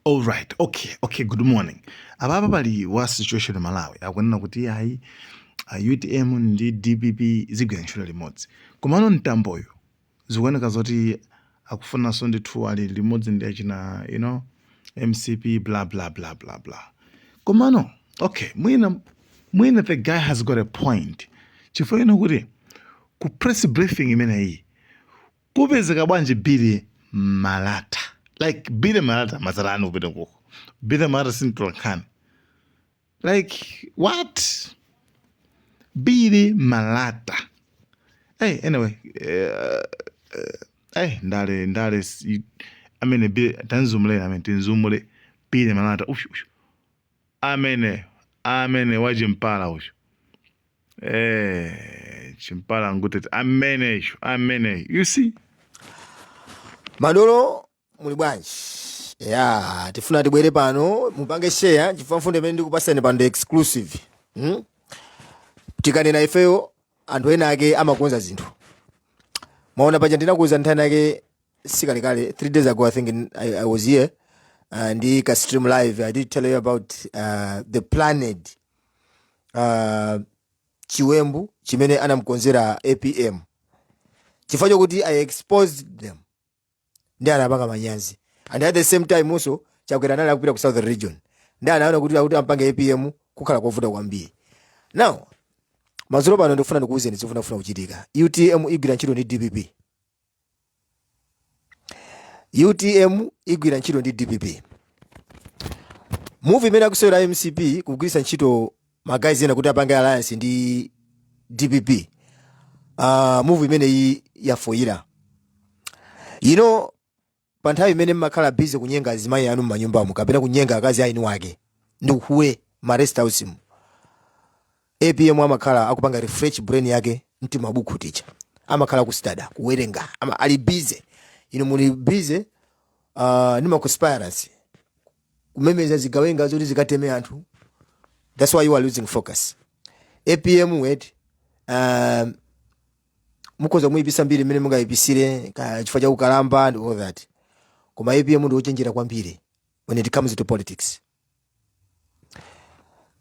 All right, okay, okay, good morning. Apapa pali wa situation Malawi akunena kuti ayi UTM ndi DPP zigwira ntchito limodzi. Komano Mtamboyo zikuoneka zoti akufunanso ndithu ali limodzi ndi achina you know MCP bla bla bla bla bla. Komano okay, mwina the guy has got a point. Chifukwa you know kuti ku press briefing imeneyi Kupezeka bwanji Billy Malata? Like Billy Malata mazalani kupita kuko. Billy Malata si mtolankhani. Like what? Billy Malata. Hey, anyway, uh, uh, hey, ndale ndale s- i- amene Billy tanzumule amene tinzumule Billy Malata. Ush, ush. Amene amene wachimpala ucho eh chimpala ngutete amene icho amene you see madolo muli bwanji ya tifuna tibwere pano mupange share chifukwa mfundo imene ndikupasani pano ndi exclusive hmm? tikanena ifeyo anthu ena ake amakonza zinthu mwaona paja ndinakuuza nthano yake sikalekale three days ago i think in, I, i was here uh, ndi ka stream live i did tell you about uh, the planned uh, chiwembu chimene anamkonzera apm chifukwa chokuti i exposed them ndi anapanga manyazi and at the same time also Chakwera anali akupita ku southern region ndi anaona kuti akuti ampange apm kukhala kovuta kwambiri now madzulo pano ndikufuna ndikuwuzeni zimene zikufuna kuchitika utm igwira ntchito ndi dpp utm igwira ntchito ndi dpp move imene akusewera mcp kugwiritsa ntchito magays ena kuti apange alliance ndi dpp uh, move imeneyi yafoyira you know pa nthawi imene mmakhala busy kunyenga azimayi anu mmanyumbamu kapena kunyenga akazi a eni ake ndi uhule ma rest house mu apm amakhala akupanga refresh brain yake m'timabukhu ticha amakhala ku study kuwerenga ama, ali busy inu muli busy uh, ndi ma conspiracy kumemeza zigawenga zoti zikateme anthu that's why you are losing focus apm wait um, mukhoza kumuyipisa mbiri mmene mungayipisire ka- chifukwa cha ukalamba and all that koma apm ndi wochenjera kwambiri when it comes to politics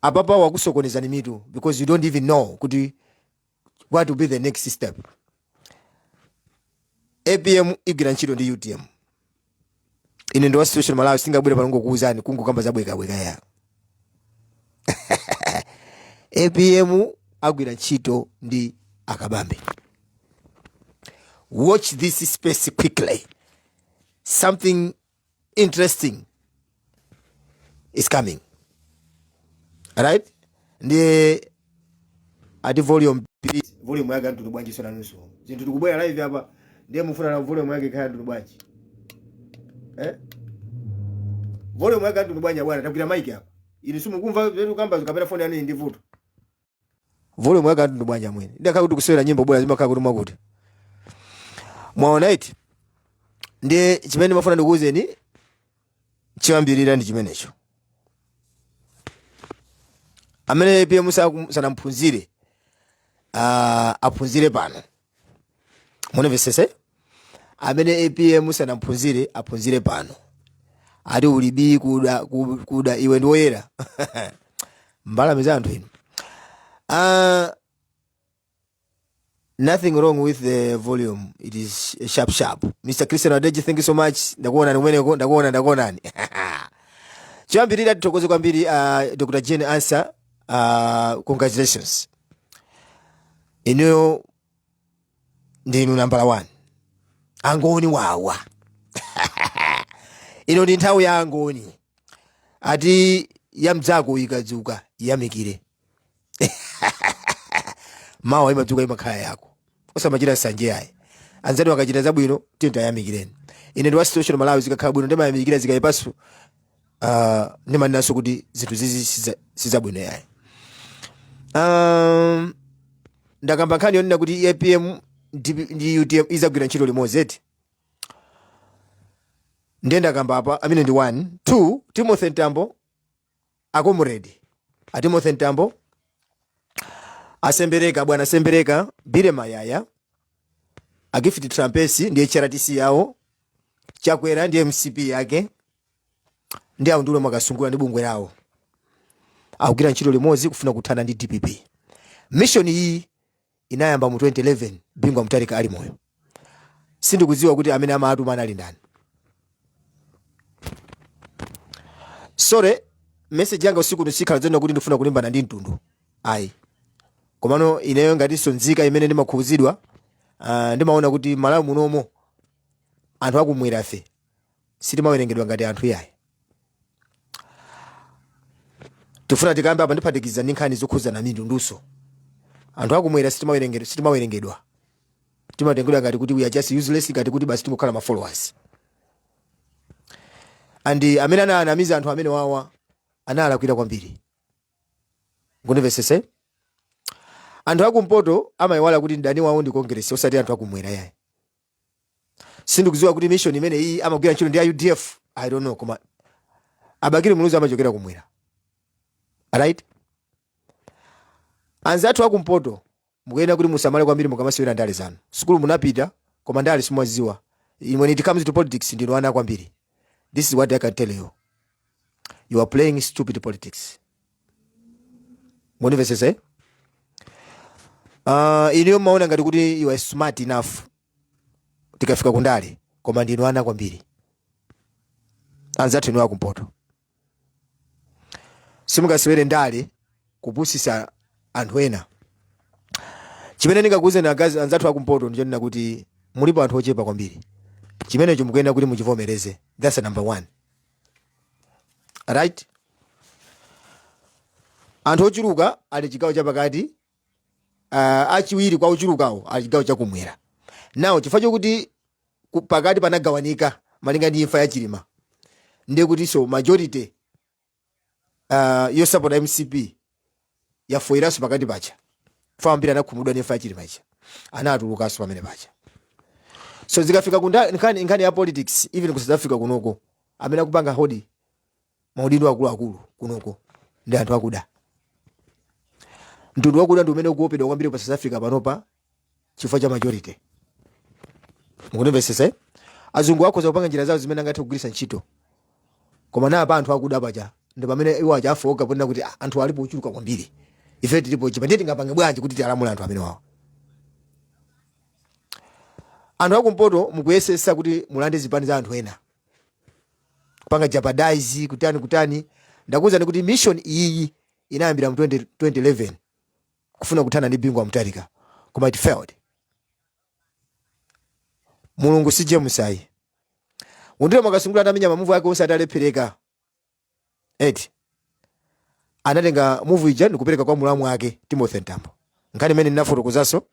apapa wakusokonezani mitu because you don't even know kuti what will be the next step dpp igwira ntchito ndi utm ine ndi wa situation malawi sindingabwere pano kungokuwuzani kungokamba zabwekabweka ya apm agwira ntchito ndi a Kabambe watch this space quickly something interesting is coming right ndiye ati volume volume yake yamtundu bwanji Inunso zintu tikubwera live apa ndiye mufuna volume yake kaya yamtundu bwanji eh volume yake yamtundu bwanji abwana takwezera mic apa inu simukumva zimene tikukambazi kapena phone yanu ili ndi vuto volume yake anthu ndi bwanja mwene nde akhala kuti kusewera nyimbo bwera zimakhala kuti mwakuti mwaona iti ndi chimene ndimafuna ndikuwuzeni chiyambirira ndi chimenecho amene apm sanamphunzire uh, aphunzire pano munamvesese amene apm sanamphunzire aphunzire pano ati ulibi kuda, ku- kuda iwe ndi woyera mbalame za anthu inu uh, nothing wrong with the volume it is sharp sharp mr christian adeji thank you so much ndakuonani kumeneko ndakuona ndakuonani choyambirira tithokoze kwambiri uh, dr jane ansa uh, congratulations inuyo ndinu nambala 1 angoni wawa ino ndi nthawi ya angoni ati yamdzako ikadzuka yamikire mawa imadzuka imakhala yako osamachita nsanje yayi anzathu akachita zabwino tiyeni tiyamikireni ine ndi wa situation malawi zikakhala bwino ndimayamikira zikayipaso uh, ndimanenanso kuti zinthu zizi siza- sizabwino yayi um, ndakamba nkhani yonena kuti apm ndi ndi utm izagwira ntchito limodzi eti ndiye ndakamba apa amene ndi 1 2 timothy mtambo a comrade a timothy mtambo a sembereka bwana sembereka billy mayaya a gift trapence ndi hrdc yawo chakwera ndi mcp yake ndi aundule mwakasungula ndi bungwe lawo akugwira ntchito limodzi kufuna kuthana ndi dpp mishoni iyi inayamba mu 2011 Bingu wa Mutharika ali moyo. Sindikudziwa kuti amene amawatuma anali ndani. So, message yanga usiku uno sikhala zonena kuti ndifuna kulimbana ndi mtundu. Ayi. Komano ineyo ngatinso nzika imene ndimakhuzidwa, uh, ndimaona kuti Malawi munomo anthu akum'mwerafe sitimawerengedwa ngati anthu iyayi tifuna tikambe apa ndiphatikiza ndi nkhani zokhudzana ndi mitunduso anthu akumwera sitimawerengedwa sitimawerengedwa timatengedwa ngati kuti we are just useless ngati kuti basi tingokhala ma followers and amene ananamiza anthu amene wawa analakwira kwambiri mundimvesese anthu akumpoto amayiwala kuti mdani wawo ndi kongeresi osati anthu akumwera yayi sindikudziwa kuti mission imene iyi amagwira ntchito ndi a udf i don't know koma a bakili muluzi amachokera kumwera right anzathu akumpoto mukuyenera kuti musamale kwambiri mukamasewera ndale zanu sukulu munapita koma ndale simumaziwa when it comes to politics ndinu ana kwambiri this is what i can tell you you are playing stupid politics mundimvetsetse uh, inuyo mmaona ngati kuti you are smart enough tikafika kundale koma ndinu ana kwambiri anzathu inu akumpoto simungasewere ndale kupusisa anthu ena chimene ndingakuuzeni akazi anzathu akumpoto ndichonena kuti mulipo anthu ochepa kwambiri chimenecho mukuyenera kuti muchivomereze that's number one right anthu ochuluka ali chigawo chapakati uh, achiwiri kwa ochulukawo ali chigawo chakumwera now chifukwa chokuti ku- pakati panagawanika malinga ndi imfa ya chilima ndiye kuti so majority uh, yosapota mcp yafoiranso pakati paja fa ambiri anakhumudwa ndi imfa ya chilima ija anatulukanso pamene paja so zikafika ku nda- nkhani ya politics even ku south africa kunoko amene akupanga hold maudindo akuluakulu kunoko ndi anthu akuda mtundu wakuda ndi umene ukuopedwa kwambiri pa south africa panopa chifukwa cha majority mukundimvesesa azungu akhoza kupanga njira zawo zimene angathe kugwiritsa ntchito koma nnapa anthu akuda paja ndi pamene iwo aja afoka ponena kuti "Ah, anthu alipo ochuluka kwambiri ife tilipo ochepa ndiye tingapange bwanji kuti tialamule anthu amene wawo anthu akumpoto mukuyesesa kuti mulande zipani za anthu ena kupanga jeopardize kutani kutani ndakuwuzani kuti mission iyiyi inayambira mu 20, 2011 kufuna kuthana ndi bingu wa mutharika koma it failed mulungu si james ayi undire mwakasungula anamenya mamuvu ake onse atalephereka eh anatenga muvu ija ndikupereka kwa mulamu wake timothy mtambo nkhani imene ndinafotokozanso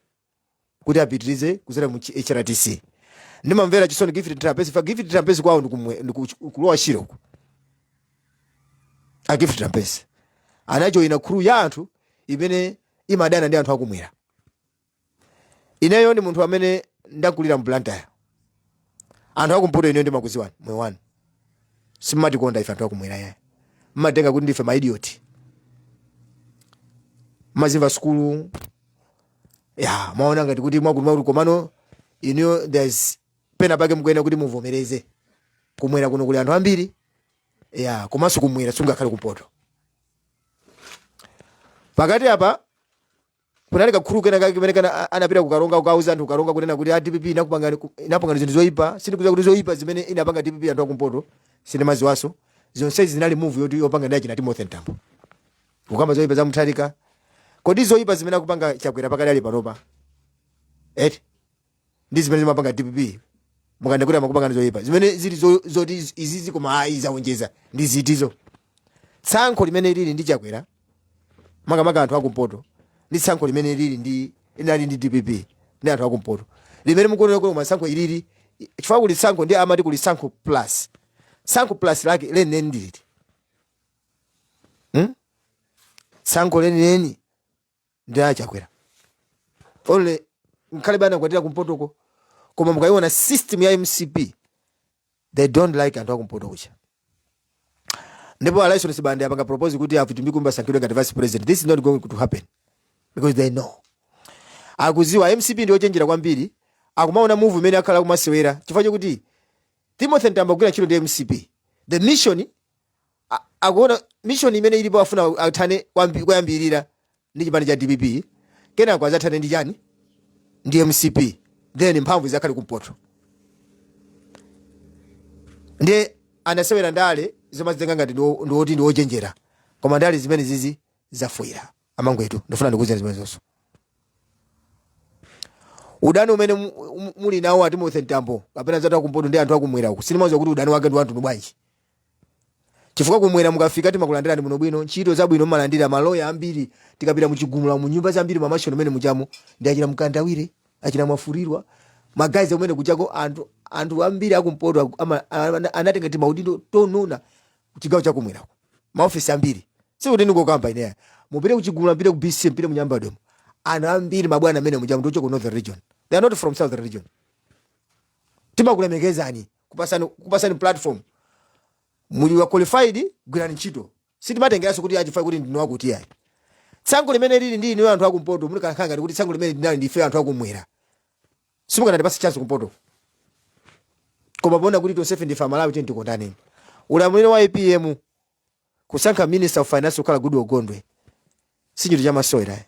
kuti apitirize kuzera mu chi- hrdc ndimamvera chisoni gift trapence fa gift trapence kwawo ndikumwe- ndiku- ku lower shire uku a gift trapence anajoyina khuluu ya anthu imene imadana ndi anthu akumwera ineyo ndi munthu amene ndakulira mu blantyre anthu akumpoto ineyo ndimakuziwani moyo wanu simatikonda ife anthu akumwera ayi mmatenga kuti ndife maidioti mmazimva sukulu ya mmaona ngati kuti mwakumva kuti komano inuyo there's pena pake mukuyenera kuti muvomereze kumwera kuno kuli anthu ambiri ya komanso kumwera sungakhale kumpoto pakati apa kunali kakhuluu kena kake kamene kana a- anapita kukaronga kukauza anthu kukaronga kunena kuti a dpp inakupangani ku- inapangani zinthu zoyipa sindikudziwa kuti zoyipa zimene inapanga dpp anthu akumpoto sindimaziwanso zonsezi zinali muvu yoti yopanga ndi achina timothy mtambo Kukamba zoipa za Mutharika. Kodi zoipa zimene akupanga Chakwera pakadali panopa? Eti ndi zimene zimapanga DPP. Munkati kuti amapanga ndi zoipa. Zimene zili zo- zoti iz- izizi koma ayi zaonjeza ndi zitizo. Tsankho limene lili ndi Chakwera makamaka anthu akumpoto ndi tsankho limene lili ndi linali ndi DPP ndi anthu akumpoto limene mukuona kuti tsankho ilili chifukwa kuli tsankho ndi amati kuli tsankho plus tsankho plus lake lenileni ndiliti hmm? tsankho lenileni ndi a chakwera olo ngakhale anakwatira kumpotoko koma mukayiona system ya mcp they don't like anthu akumpoto kuja ndipo allison sibande apanga propose kuti a vitumbiko mumba asankhidwe ngati vice president this is not going to happen because they know akuziwa mcp ndi ochenjera kwambiri akumaona move imene akhala akumasewera chifukwa chokuti timothy mtambo kugwira ntchito ndi mcp the mission a- akuona mission imene ilipo afuna athane kwambi- koyambirira ndi chipani cha dpp kenako azathane ndi chani ndi mcp then mphamvu zakhale kumpoto ndiye amasewera ndale zomazitenga ngati ndiwo- ndiwoti ndiwochenjera koma ndale zimenezizi zafwifwa amangwetu ndifuna ndikuuzeni zimenezonso udani umene mu- mu- muli nawo a timothy mtambo kapena za anthu akumpoto ndi anthu akumwera uku sindimaziwa kuti udani wake ndi wamtundu wanji chifukwa kumwera mukafika timakulandirani bwinobwino ntchito zabwino mumalandira maloya ambiri tikapita muchigumula mu nyumba zambiri mamashoni amene mujamo ndi achina mkandawire achina mwafurirwa magalasi kumene kujako anthu anthu ambiri akumpoto aku- ama- ana- anatenga timaudindo tonona kuchigawo chakumwera maofesi ambiri sikuti ndingokamba ine ayi mupite kuchigumula mupite ku bca mupite munyambadwemo anthu ambiri mabwana amene mujamo ndi ochoka ku northern region they are not from southern region timakulemekezani kupatsani kupatsani platform muli wa qualified gwirani ntchito sitimatengeranso kuti a chief ayi kuti ndinu akuti iyayi tsankho limene lili ndi inu anthu akumpoto muli kanakhala ngati kuti tsankho limene linali ndife anthu akumwera sitikanakupasani chance kumpoto koma poona kuti tonsefe ndife amalawi tiyeni tikondaneni ulamuliro wa apm Kusankha minister of finance kukhala Goodall Gondwe sichinthu chamasewera ayi.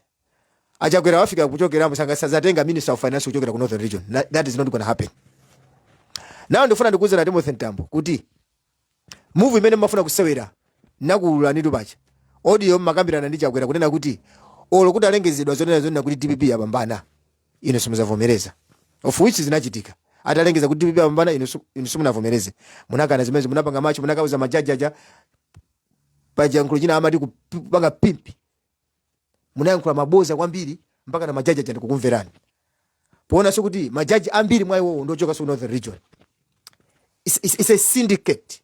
A Chakwera afika pochokamo asana- sazatenga minister of finance kuchokera ku Northern Region. Na- That is not gonna happen. Now ndifuna ndikuuzeni a Timothy Mtambo kuti move imene mmafuna kusewera nakuululanitu paja audio mmakambirana ndi Chakwera kunena kuti olo kutalengezedwa zonena zonena kuti DPP yapambana inu simuzavomereza of which zinachitika atalengeza kuti dpp yapambana inu su- inu simunavomereze munakana zimenezo munapanga march munakauza majaji aja paja pachiyankhulo china amati kup- kupanga pimpi munayankhula maboza kwambiri mpaka na majaji aja ndikukumverani poonanso kuti majaji ambiri mwa iwowo ndiochoka ku northern region it's, it's, it's a syndicate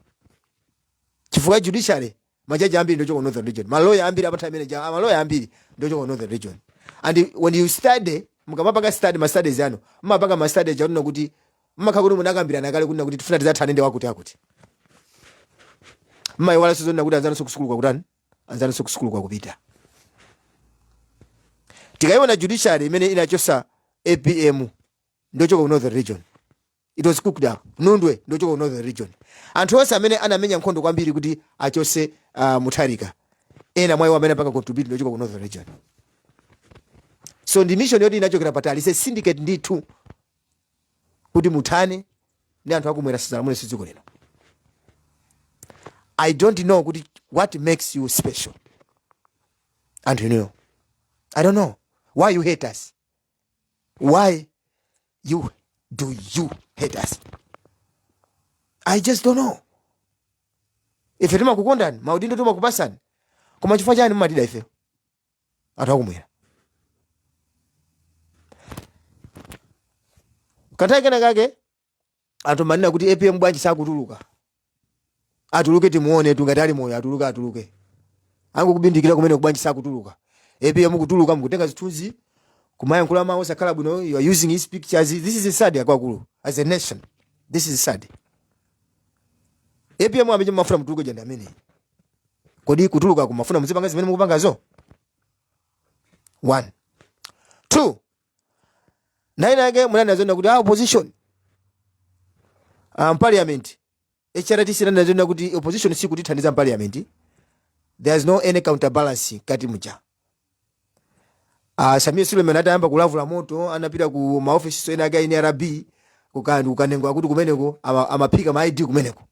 chifukwa cha judiciary majaji ambiri ndochoka ku northern region maloya ambiri apatha amene aja maloya ambiri ndochoka ku northern region and when you study mukamapanga study ma studies anu mumapanga ma studies akunena kuti mumakhala kuti munakambirana kale kunena kuti tifuna tidzathane ndi wakuti akuti mmayiwala zonena kuti anzanso kusukulu kwakutani anzanso kusukulu kwakupita tikayiona judiciary imene inachosa apm ndochoka ku northern region It was cooked up. Nundwe ndochoka ku Northern Region. Anthu onse amene anamenya nkhondo kwambiri kuti achose uh, Mutharika. Ena mwa iwo amene apanga contribute ndochoka ku Northern Region. So ndi mission yoti inachokera patali it's a syndicate ndithu kuti muthane ndi anthu akumwera asadzalamuleso dziko lino. I don't know kuti what makes you special. Anthu inuyo. I don't know why you hate us. why do you hate us i just don't know ife timakukondani maudindo timakupasani koma chifukwa chani mumatida ife anthu akumwera kanthawi kena kake anthu mmanena kuti apm bwanji sakutuluka atuluke timuonetu ngati ali moyo atuluke atuluke angokubindikira kumeneku bwanji sakutuluka apm kutuluka mukutenga zithunzi kumayankhula mawu osakhala bwino you are using his pictures this is sad akuluakulu as a nation this is sad apm amene mmafuna atuluke uja ndi ameneyo kodi kutuluka kumafuna muzipanga zimene mukupangazo one two nthawi ina yake munanena zonena kuti a opposition ah, mparliament hrdc inanena zonena kuti opposition sikutithandiza mparliament there is no any counterbalance kamwa ati muja ah, sameer suleman atayamba kulavula moto anapita ku maofisi so ena ake a nrb kuka- kukanena akuti kumeneko ama- amaphika ma id kumeneko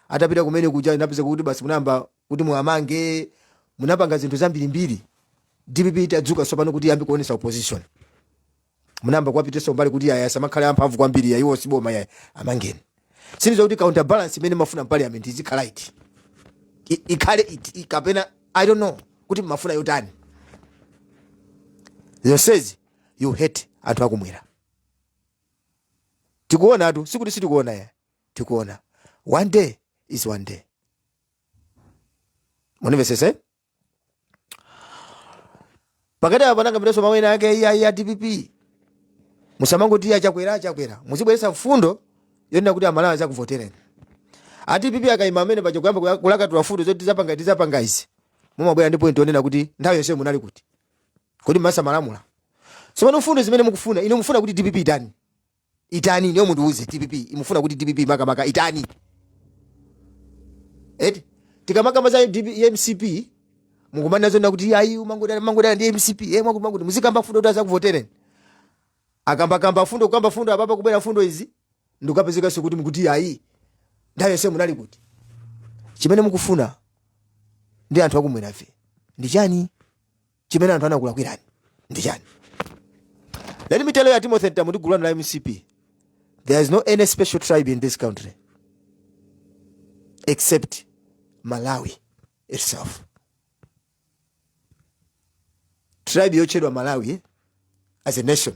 atapita kumene kuja napeza kuti basi munayamba kuti muwamange munapanga zinthu zambirimbiri dpp itadzuka tsopano kuti iyambe kuonesa opposition munayamba kuwapitisa kumbali kuti aya asamakhale amphamvu kwambiri ayiwo siboma yayi amangeni sindiziwa kuti counter balance imene mmafuna parliament izikhala iti I- ikhale iti I- kapena i don't know kuti mmafuna yotani zonsezi you hate anthu akumwera tikuonatu sikuti sitikuona yayi tikuona one day is one day munimvesese pakatipa panamvekaso mawu ena ake iya iya dpp musamangoti achakwera achakwera muzibweresa mfundo yonena kuti amalawi azakuvotereni adpp akayima apapaja kuyamba kuya- kulakatula mfundo zoti tizapanga tizapanga izi mumabwera ndi point yonena kuti nthawi yonse munali kuti kodi mmesa mmalamula tsopano mfundo zimene mukufuna inu mufuna kuti dpp itani itani inuyo mundiuze dpp mukufuna kuti dpp makamaka itani eti tikamakamba za DP ya mcp mukumanena zonena kuti ayi mumangodana mangodana ndi mcp e mukumangoti muzikamba fundo kuti azakuvotereni akambakamba fundo kukamba fundo apapa kubwera fundo izi ndikukapezekanso kuti mukuti ayi nthawi yonse munali kuti chimene mukufuna ndi anthu akumwerafe ndi chani chimene anthu anakulakwirani ndi chani let me tell you timothy mtambo ndi gulu lanu la mcp there is no any special tribe in this country except malawi itself tribe yotchedwa malawi eh, as a nation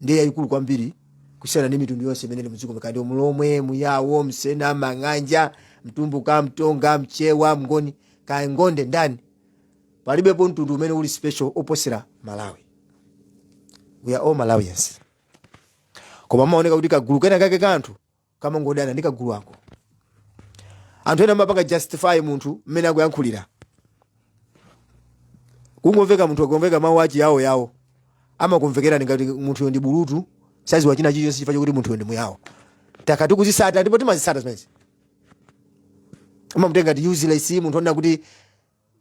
ndiye yayikulu kwambiri kusiyana ndi mitundu yonse imene ili mdziko muno kaya ndi mlomwe muyawo msena mang'anja mtumbuka mtonga mchewa mngoni kaya ngonde ndani palibepo mtundu umene uli special oposera malawi we are all malawians koma amaoneka kuti kagulu kena kake ka anthu kamangodana ndi kagulu ka anthu ena amapanga justify munthu mmene akuyankhulira kungomveka munthu akumveka mawu achiyawo yawo amakumvekerani ngati munthuyo ndi bulutu saziwa china chilichonse chifukwa chokuti munthuyo ndi muyawo takhala tikuzisata ndipo timazisata zimenezi amamutenga ngati useless munthu onena kuti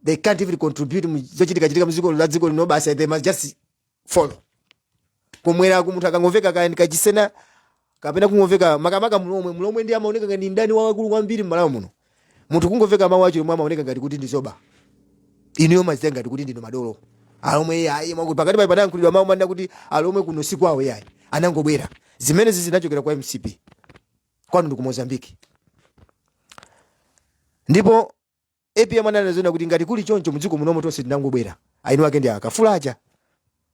they can't even contribute mu zochitikachitika mziko la dziko lino basi they must just follow kumweraku munthu akangomveka kaya ndi kachisena kapena kungomveka makamaka mlomwe mlomwe ndiye amaoneka ngati mdani wamkulu kwambiri m'malawi muno munthu kungomveka mawu achilomwe amaoneka ngati kuti ndi zoba inuyo mumazitenga ngati kuti ndinu madolo alomwe iyayi mwakuti pakatipa panayankhulidwa mawu mumanena kuti alomwe kuno si kwawo iyayi anangobwera zimenezi zinachokera kwa mcp kwanu ndi ku mozambique ndipo Apm ananena zoona kuti ngati kuli choncho mdziko munomo tonse tinangobwera aeni wake ndi akafula aja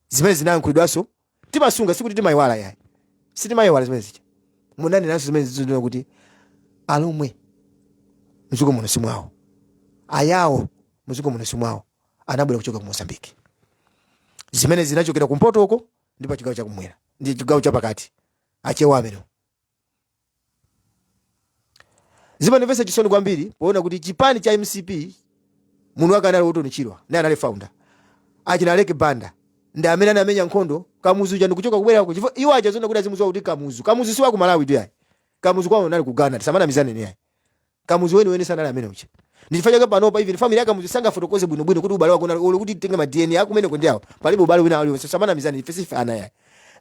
zimene zinayankhulidwazo timasunga sikuti timayiwala yayi sitimayiwala zimene zija munanenanso zimenezi zonena kuti alomwe mdziko muno simwawo ayawo mdziko muno simwawo anabwera kuchoka ku mozambique zimenezi zinachokera kumpotoko ndi pa chigawo chakumwera ndi chigawo chapakati achewa amene zimandimvetsa chisoni kwambiri poona kuti chipani cha mcp munthu wake anali orton chirwa naye anali founder achina aleke banda ndi amene anamenya nkhondo kamuzu uja ndikuchoka kubwerako chifukwa iwo aja zona kuti azimuziwa kuti kamuzu kamuzu si waku malawitu yayi kamuzu kwawo anali ku ghana tisamanamizaneni yayi Kamuzu weni weni sanali amene uja. Ndi chifukwa chake panopa even family ya Kamuzu sangafotokoze bwino bwino kuti ubale wake unali olo kuti titenge ma DNA a kumeneko ndi awa. Palibe ubale wina uliwonse. Tisamanamizane ife siife ana yayi.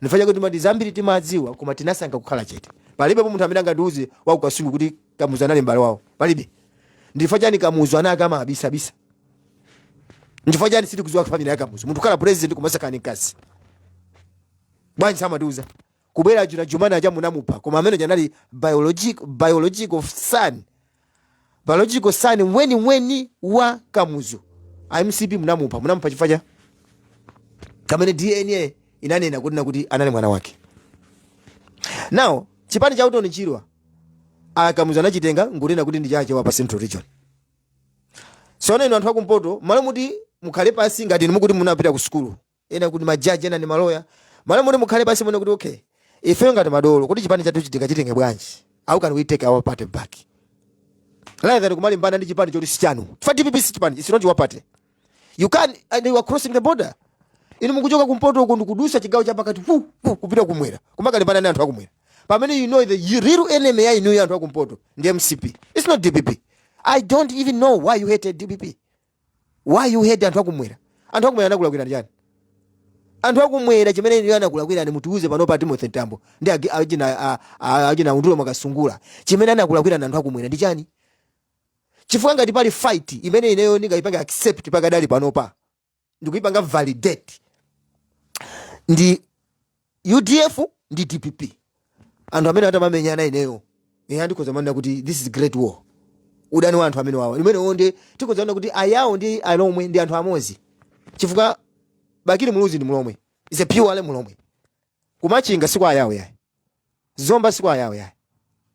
Ndi chifukwa chake timati zambiri timadziwa koma tinasankha kukhala chete. Palibepo munthu amene angandiuze wa ku Kasungu kuti Kamuzu anali m'bale wawo. Palibe. Ndi chifukwa chani Kamuzu ana ake amawabisabisa? Ndi chifukwa chani sitikudziwa family ya Kamuzu? Munthu kukhala president koma osakhala ndi mkazi. Bwanji samatiuza? kubwera achina Jumani aja munamupha koma amene uja anali biologic, biological son biological son weniweni wa kamuzu a mcp munamupha munamupha chifukwa cha kamene dna inanena kunena kuti anali mwana wake now chipani cha Orton Chirwa akamuzu anachitenga nkunena kuti ndi chache wa pa central region sono inu anthu akumpoto malo moti mukhale pasi ngati inu mukuti munapita ku sukulu ena kuti ma judge ena ndi ma lawyer malo moti mukhale pansi muone kuti okay ifeyo ngati madolo kuti chipani chathu chitika chitenge bwanji how can we take our party back rather than kumalimbana ndi chipani choti sichanu chifukwa DPP si chipani it's not your party you can and you are crossing the border inu mukuchoka kumpoto uko ndikudusa chigawo cha pakati pu pu kupita kummwera kumakalimbana ndi anthu akumwera pamene you know the real enemy ya inu ya anthu akumpoto ndi mcp it's not dpp i don't even know why you hated dpp why you hate anthu akumwera anthu akumwera anakulakwirani chiyani anthu akumwera chimene inuyo anakulakwirani mutiuze pano pa timothy mtambo ndi agi- achina a- a- achina undulo Mwakasungula chimene anakulakwirani anthu akumwera ndi chani chifukwa ngati pali fight imene ineyo ndingayipanga accept pakadali panopa ndikuyipanga validate ndi udf ndi dpp anthu amene atamamenyana ineyo ehe ndikhoza kumanena kuti this is great war udani wa anthu amene wawa imeneyo nde tikhoza kumanena kuti ayawo ndi alomwe ndi anthu amodzi chifukwa bakili muluzi ndi mulomwe is a pure ale mulomwe kumachinga si kwa ayawo yayi zomba si kwa ayawo yayi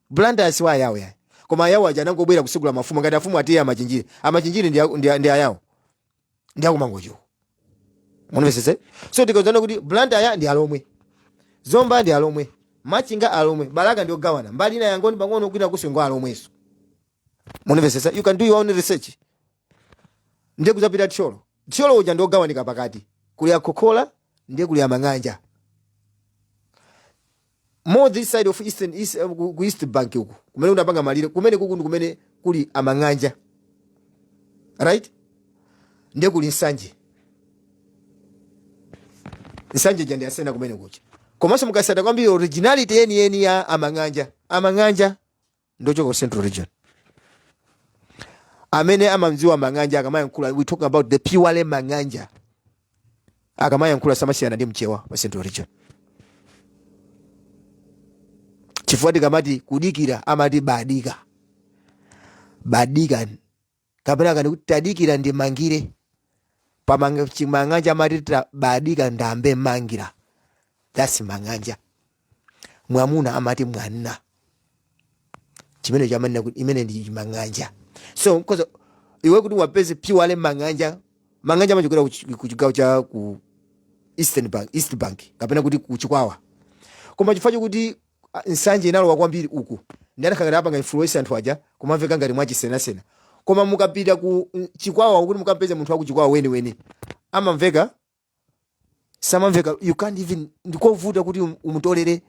Blantyre si kwa ayawo yayi koma ayawo aja anangobwera kusegula mafumu ngati afumu atiye amachinjiri amachinjiri ndi, ndi, ndi ayawo ndi akumangochiwo mundimvesese so tikhoza nena kuti blantyre ndi alomwe zomba ndi alomwe machinga alomwe balaka ndi ogawana mbali ina yangoni pang'ono kwina kuswengo alomweso mundimvesese you can do your own research ndiye kudzapita thyolo thyolo uja ndi ogawanika pakati kuli akhokhola ndiye kuli amang'anja More this side of eastern east, eh, ku ku east bank uku kumene unapangana malire kumene kuku ndi kumene kuli amang'anja right ndiye kuli nsanje nsanje ija ndi asena kumene kuja komanso mukasata kwambiri originality yeniyeni ya amang'anja amang'anja ndi ochoka ku central region amene amamudziwa mang'anja akamayankhula we talking about the purely mang'anja akamayankhula samasiyana ndi mchewa pa central region chifukwa tikamati kudikira amati badika badika kapena kani kuti tadikira ndimangire pamanga chimang'anja amati ba- badika ndambe mangira that's mang'anja mwamuna amati mwanna chimene chamanena kuti imene ndi chimang'anja so because iwe kuti uwapeze pure mang'anja mang'anja amachokera ku chi- ku chigawo cha ku eastern bank east bank kapena kuti ku chikwawa koma chifukwa chokuti Ah, nsanje inalowa kwambiri uku ndi anakhala ngati apanga influence anthu aja kumamveka ngati mwachisenasena koma mukapita ku mm, chikwawa kuti mukampeze munthu wakuchikwawa weniweni amamveka samamveka you can't even ndikovuta kuti um- umutolere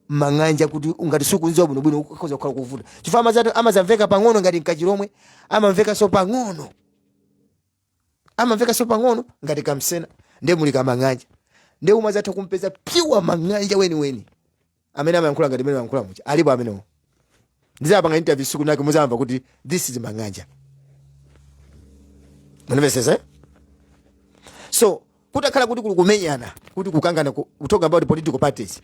mang'anja kuti ngati sukumuziwa bwinobwino ukhoza kukhala kuvuta chifukwa amazati amazamveka pang'ono ngati kachilomwe amamvekanso pang'ono amamvekanso pang'ono ngati kamsena nde muli kamang'anja nde umadzatha kumpeza pure mang'anja weniweni amene amayankhula ngati mene amayankhula muja alipo amenewo ndizapanga interview siku linake muzamva kuti this is mang'anja munamvesesa eh? so kutakhala kuti kuli kumenyana kuli kukangana ku- we talk about political parties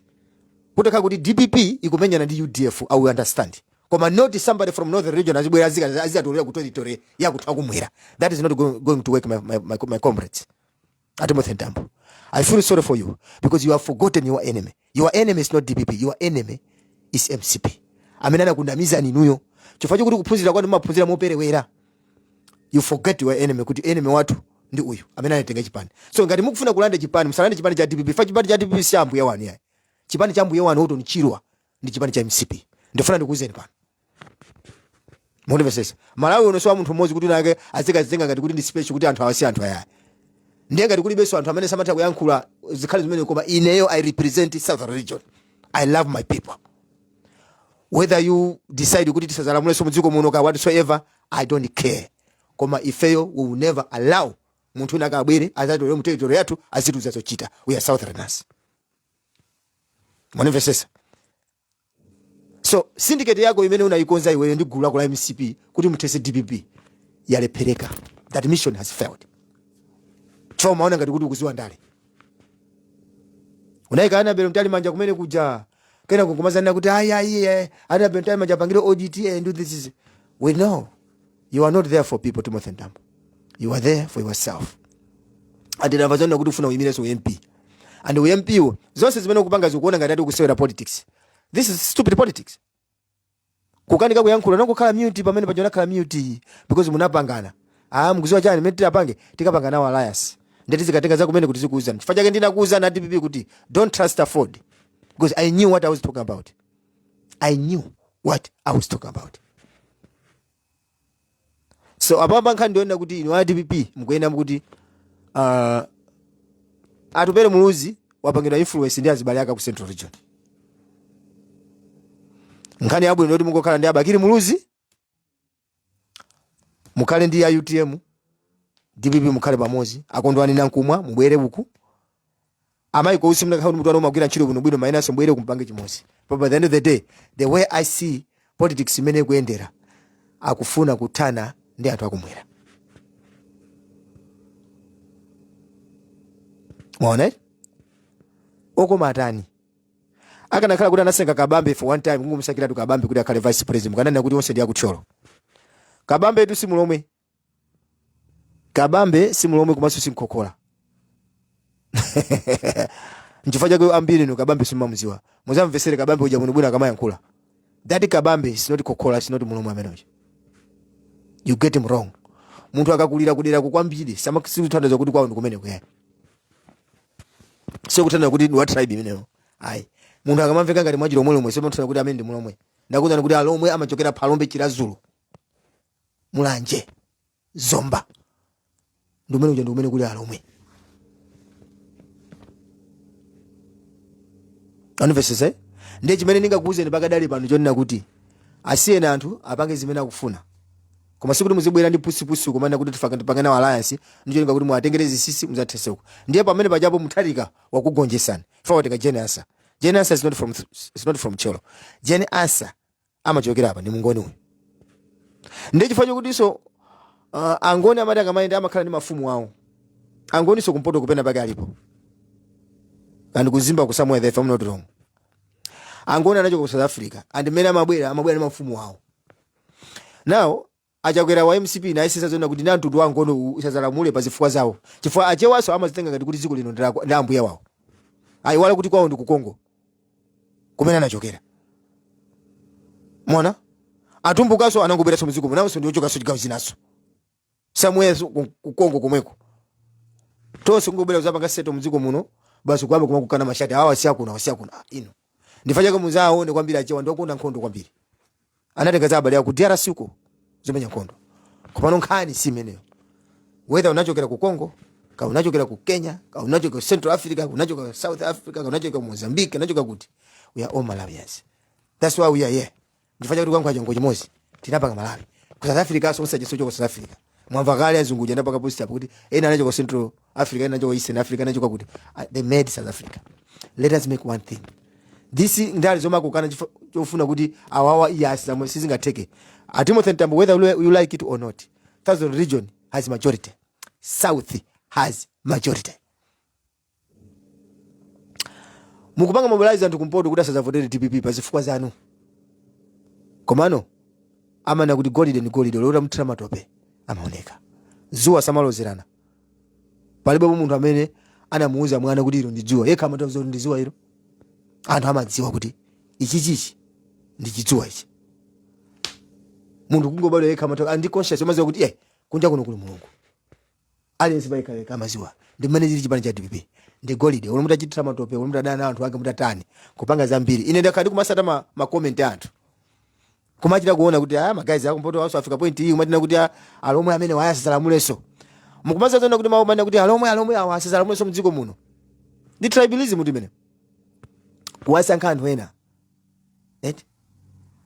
kutakhala kuti dpp ikumenyana ndi udf i will understand koma not somebody from northern region azibwera azika- azikatolera ku territory ya kwathu kumwera that is not go- going to work my, my, my, my comrades a timothy mtambo i feel sorry for you because you have forgotten your enemy your enemy is not dpp your enemy is mcp amene anakundamizani inuyo chifukwa chokuti kuphunzira kwanu maphunzira moperewera you forget your enemy kuti enemy wathu ndi uyu amene anatenga chipani so ngati mukufuna kulanda chipani musalande chipani cha dpp chifukwa chipani cha dpp si cha mbuye wanu yayi chipani cha mbuye wanu orton chirwa ndi chipani cha mcp ndifuna ndikuwuzeni pano mundimvesese malawi uno siwa munthu mmodzi kuti winake azikazitenga ngati kuti ndi special kuti anthu awasi anthu ayaya ndiye ngati kulibenso anthu amene amatha kuyankhula zikakhala zimenezo koma ineyo i represent southern region i love my people whether you decide kuti tisazalamulenso mudziko muno ka whatsoever i don't care koma ifeyo we will never allow munthu winake abwere azatole mu territory yathu azitiuza zochita we are southerners mwandimvesesa so syndicate yako imene unayikonza iweyo ndi gulu lako la mcp kuti muthese dpp yalephereka that mission has failed chifukwa umaona ngati kuti ukuziwa ndale unayika annabel mtalimanja kumene kuja kenako kumazanena kuti ayi ayi eh, annabel mtalimanja apangire audit and do this we know you are not there for people timothy mtambo you are there for yourself and ndamva zonena kuti ufuna uyimirenso ump and ump wo zonse zimene ukupanga ukuona ngati ati ukusewera politics this is stupid politics kukanika kuyankhula unangokhala mute pamene paja unakhala mute because munapangana ah mukuziwa chani mene titapange tikapanga nawo alliance nde tizikatenga zakumeneku tizikuuzani chifukwa chake ndinakuuzani a dpp kuti don't trust aford because i knew what i was talking about i knew what i was talking about so apapa nkhani ndiyonena kuti inu a dpp mukuyenera kuti uh, atupere muluzi wapangidwa influence ndi azibale akewa ku central region nkhani yabwino ndi yoti mungokhala ndi abakiri muluzi mukhale ndi a utm dpp mukhale pamodzi akondwani nankhumwa mubwere uku Amai ko usi mumagwira ntchito bwinobwino inunso mubwere kuno mupange chimosi. But by the end of the day, the way I see politics mmene ikuyendera, akufuna kuthana ndi anthu akumwera. Mwaona eh? Okoma atani. Akanakhala kuti anasenga Kabambe for one time, kungomusankhiratu Kabambe kuti akhale vice president. Kananena kuti onse ndi aku Thyolo. Kabambetu si mulomwe. kabambe si mlomwe kumanso si mkhokhola nchifukwa chake ambirinu kabambe simumamuziwa muzamvesere kabambe uja bwinobwino akamayankhula that kabambe is not khokhola is not mlomwe ameneyo you get him wrong munthu akakulira kuderako kwambiri sizimatanthauza kuti kwawo ndikumene kuyani sikutanthauza kuti ndi wa tribe imeneyo ayi munthu akamamveka ngati wa chilomwelomwe sizimatanthauza kuti amene ndi mlomwe ndakuuzani kuti alomwe amachokera phalombe chiradzulu mulanje zomba ndi kumene kuja ndi kumene kuli alomwe andimvesese ndiye chimene ndingakuwuzeni pakadali pano chonena kuti asiyeni anthu apange zimene akufuna koma sikuti muzibwera ndi pusipusi kumanena kuti tifaka tipange nawo alliance ndicholinga kuti muwatengereze sisi muzatheseko ndiye pamene pajapo mutharika wakugonjesani pawatenga jane ansah jane ansah is not from, is not from thyolo jane ansah amachokera apa ndi mngoni uyu ndiye chifukwa chokutinso uh, angoni amati akamayenda amakhala ndi mafumu awo angoninso kumpoto kwina pake alipo and ku mzimba somewhere there if i'm not wrong angoni anachoka ku south africa and mmene amabwera amabwera ndi mafumu awo now Achakwera wa mcp anayesesa zonena kuti ndi amtundu wa angoni u- usazalamule pa zifukwa zawo chifukwa achewaso amazitenga ngati kuti dziko lino ndi lako- ndi ambuye wawo ayiwala kuti kwawo ndi ku congo kumene anachokera mwaona atumbukaso anangobweranso mdziko munonso ndi ochokanso chigawo chinaso somewhere ku ku congo komweko tonse kungobwera kuzapanga settle mdziko muno basi kuyamba kumakokana mashati awa siakuno awa siakuno Ah, inu nchifukwa chake muzaona kwambiri achewa ndi okonda nkhondo kwambiri anatenga za abale aku drc uko zomenya nkhondo komano nkhani si imeneyo whether unachokera ku congo kaya unachokera ku kenya kaya unachokera ku central africa kaya unachokera ku south africa kaya unachokera ku mozambique unachokera kuti we are all malawians that's why we are here Nchifukwa chake tikuyankhula chinenero chimodzi. Tinapanga Malawi. Ku South Africaso onse aja sochoka South Africa. Mwamva kale azungu uja anapanga post apo kuti ena anachoka Central Africa, ena anachoka Eastern Africa, ena anachoka kuti ah, they made South Africa. Let us make one thing. This ndale zomakukana chifo- chofuna kuti awawa ayi zimene sizingatheke. A Timothy Ntambo whether you you like it or not. Southern region has majority. South has majority. mukupanga mobilize anthu kumpoto kuti asadzavotere dpp pa zifukwa zanu komano amanena kuti golide ndi golide olo utamthira matope amaoneka dzuwa samalozerana palibepo munthu amene anamuuza mwana kuti ilo ndi dzuwa yekha amatodziwa kuti ndi dzuwa ilo anthu amadziwa kuti ichichichi ndi chidzuwa ichi munthu kungobadwa yekha amatokhala ndi conscious amadziwa kuti eh kunja kuno kuli mulungu aliyense payekha yekha amadziwa ndi mmene chili chipani cha dpp ndi golide olo mutachithira matope olo mutadana ndi anthu ake mutatani kupanga zambiri ine ndakhala ndikumatsata ma, ma comment a anthu kumachita kuona kuti ayi ma guys akumpotowanso afika point iyi kumati kuti ah, alomwe amene awa asalamulenso mukumadziwa zoona kuti mawu omanena kuti alomwe alomwe awa asalamulenso mdziko muno ndi tribalism kuti mmene mukuwasankha anthu ena eti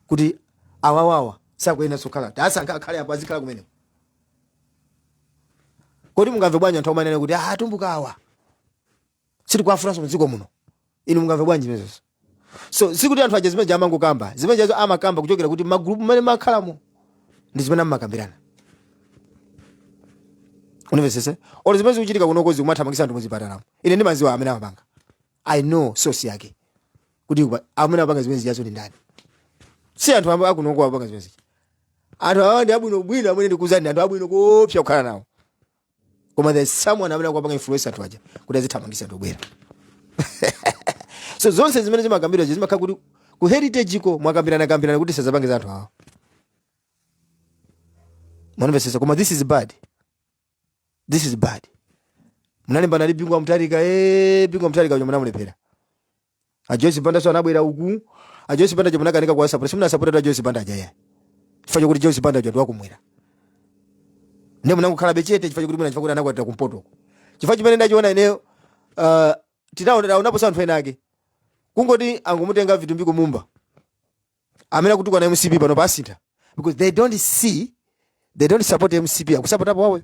kuti awawawa sakuyenera sokhala kuti asankha akhale apo azikakhala kumeneko kodi mungamve bwanji anthu atamanena kuti ah atumbuka awa sitikuwafunanso mdziko muno inu mungamve bwanji zimenezo so sikuti anthu aja zimene zija amangokamba zimene zijazo amakamba kuchokera kuti magulupu mmene amakhalamo ndi zimene amakambirana univesese olo zimene zikuchitika kunoko zokumathamangitsa anthu muzipatalamo ine ndimadziwa amene amapanga i know source yake kuti kuba- amene apanga zimene zijazo ndi ndani si anthu akunoko apanga zimene zija anthu awa ndi abwino bwino amene ndikuuzani ndi anthu abwino koopsa kukhala nawo koma there is someone amene akupanga influence anthu aja kuti azithamangitsa anthu obwera so zonse zimene zimakambidwa zimakhala kuti ku heritage ko mwakambirana kambirana kuti tizapange za anthu awa mwandimvetsetsa koma this is bad this is bad munalimbana ndi bingu wa mutharika e bingu wa mutharika uja munamulephera a joyce bandanso anabwera uku a joyce banda uja munakanika kuwasapota simunasapote a joyce banda aja ya chifukwa chakuti joyce banda uja ndiwakumwera ndiye munangokhalabe chete chifukwa chakuti mwina chifukwa kuti anakwatira kumpoto uku chifukwa chimene ndachiona ineyo uh, tinaonaponso anthu ena ake kungoti angomutenga vitumbiko mumba amene akutukwana mcp pano pasintha because they don't see they don't support mcp akusapotapo wawo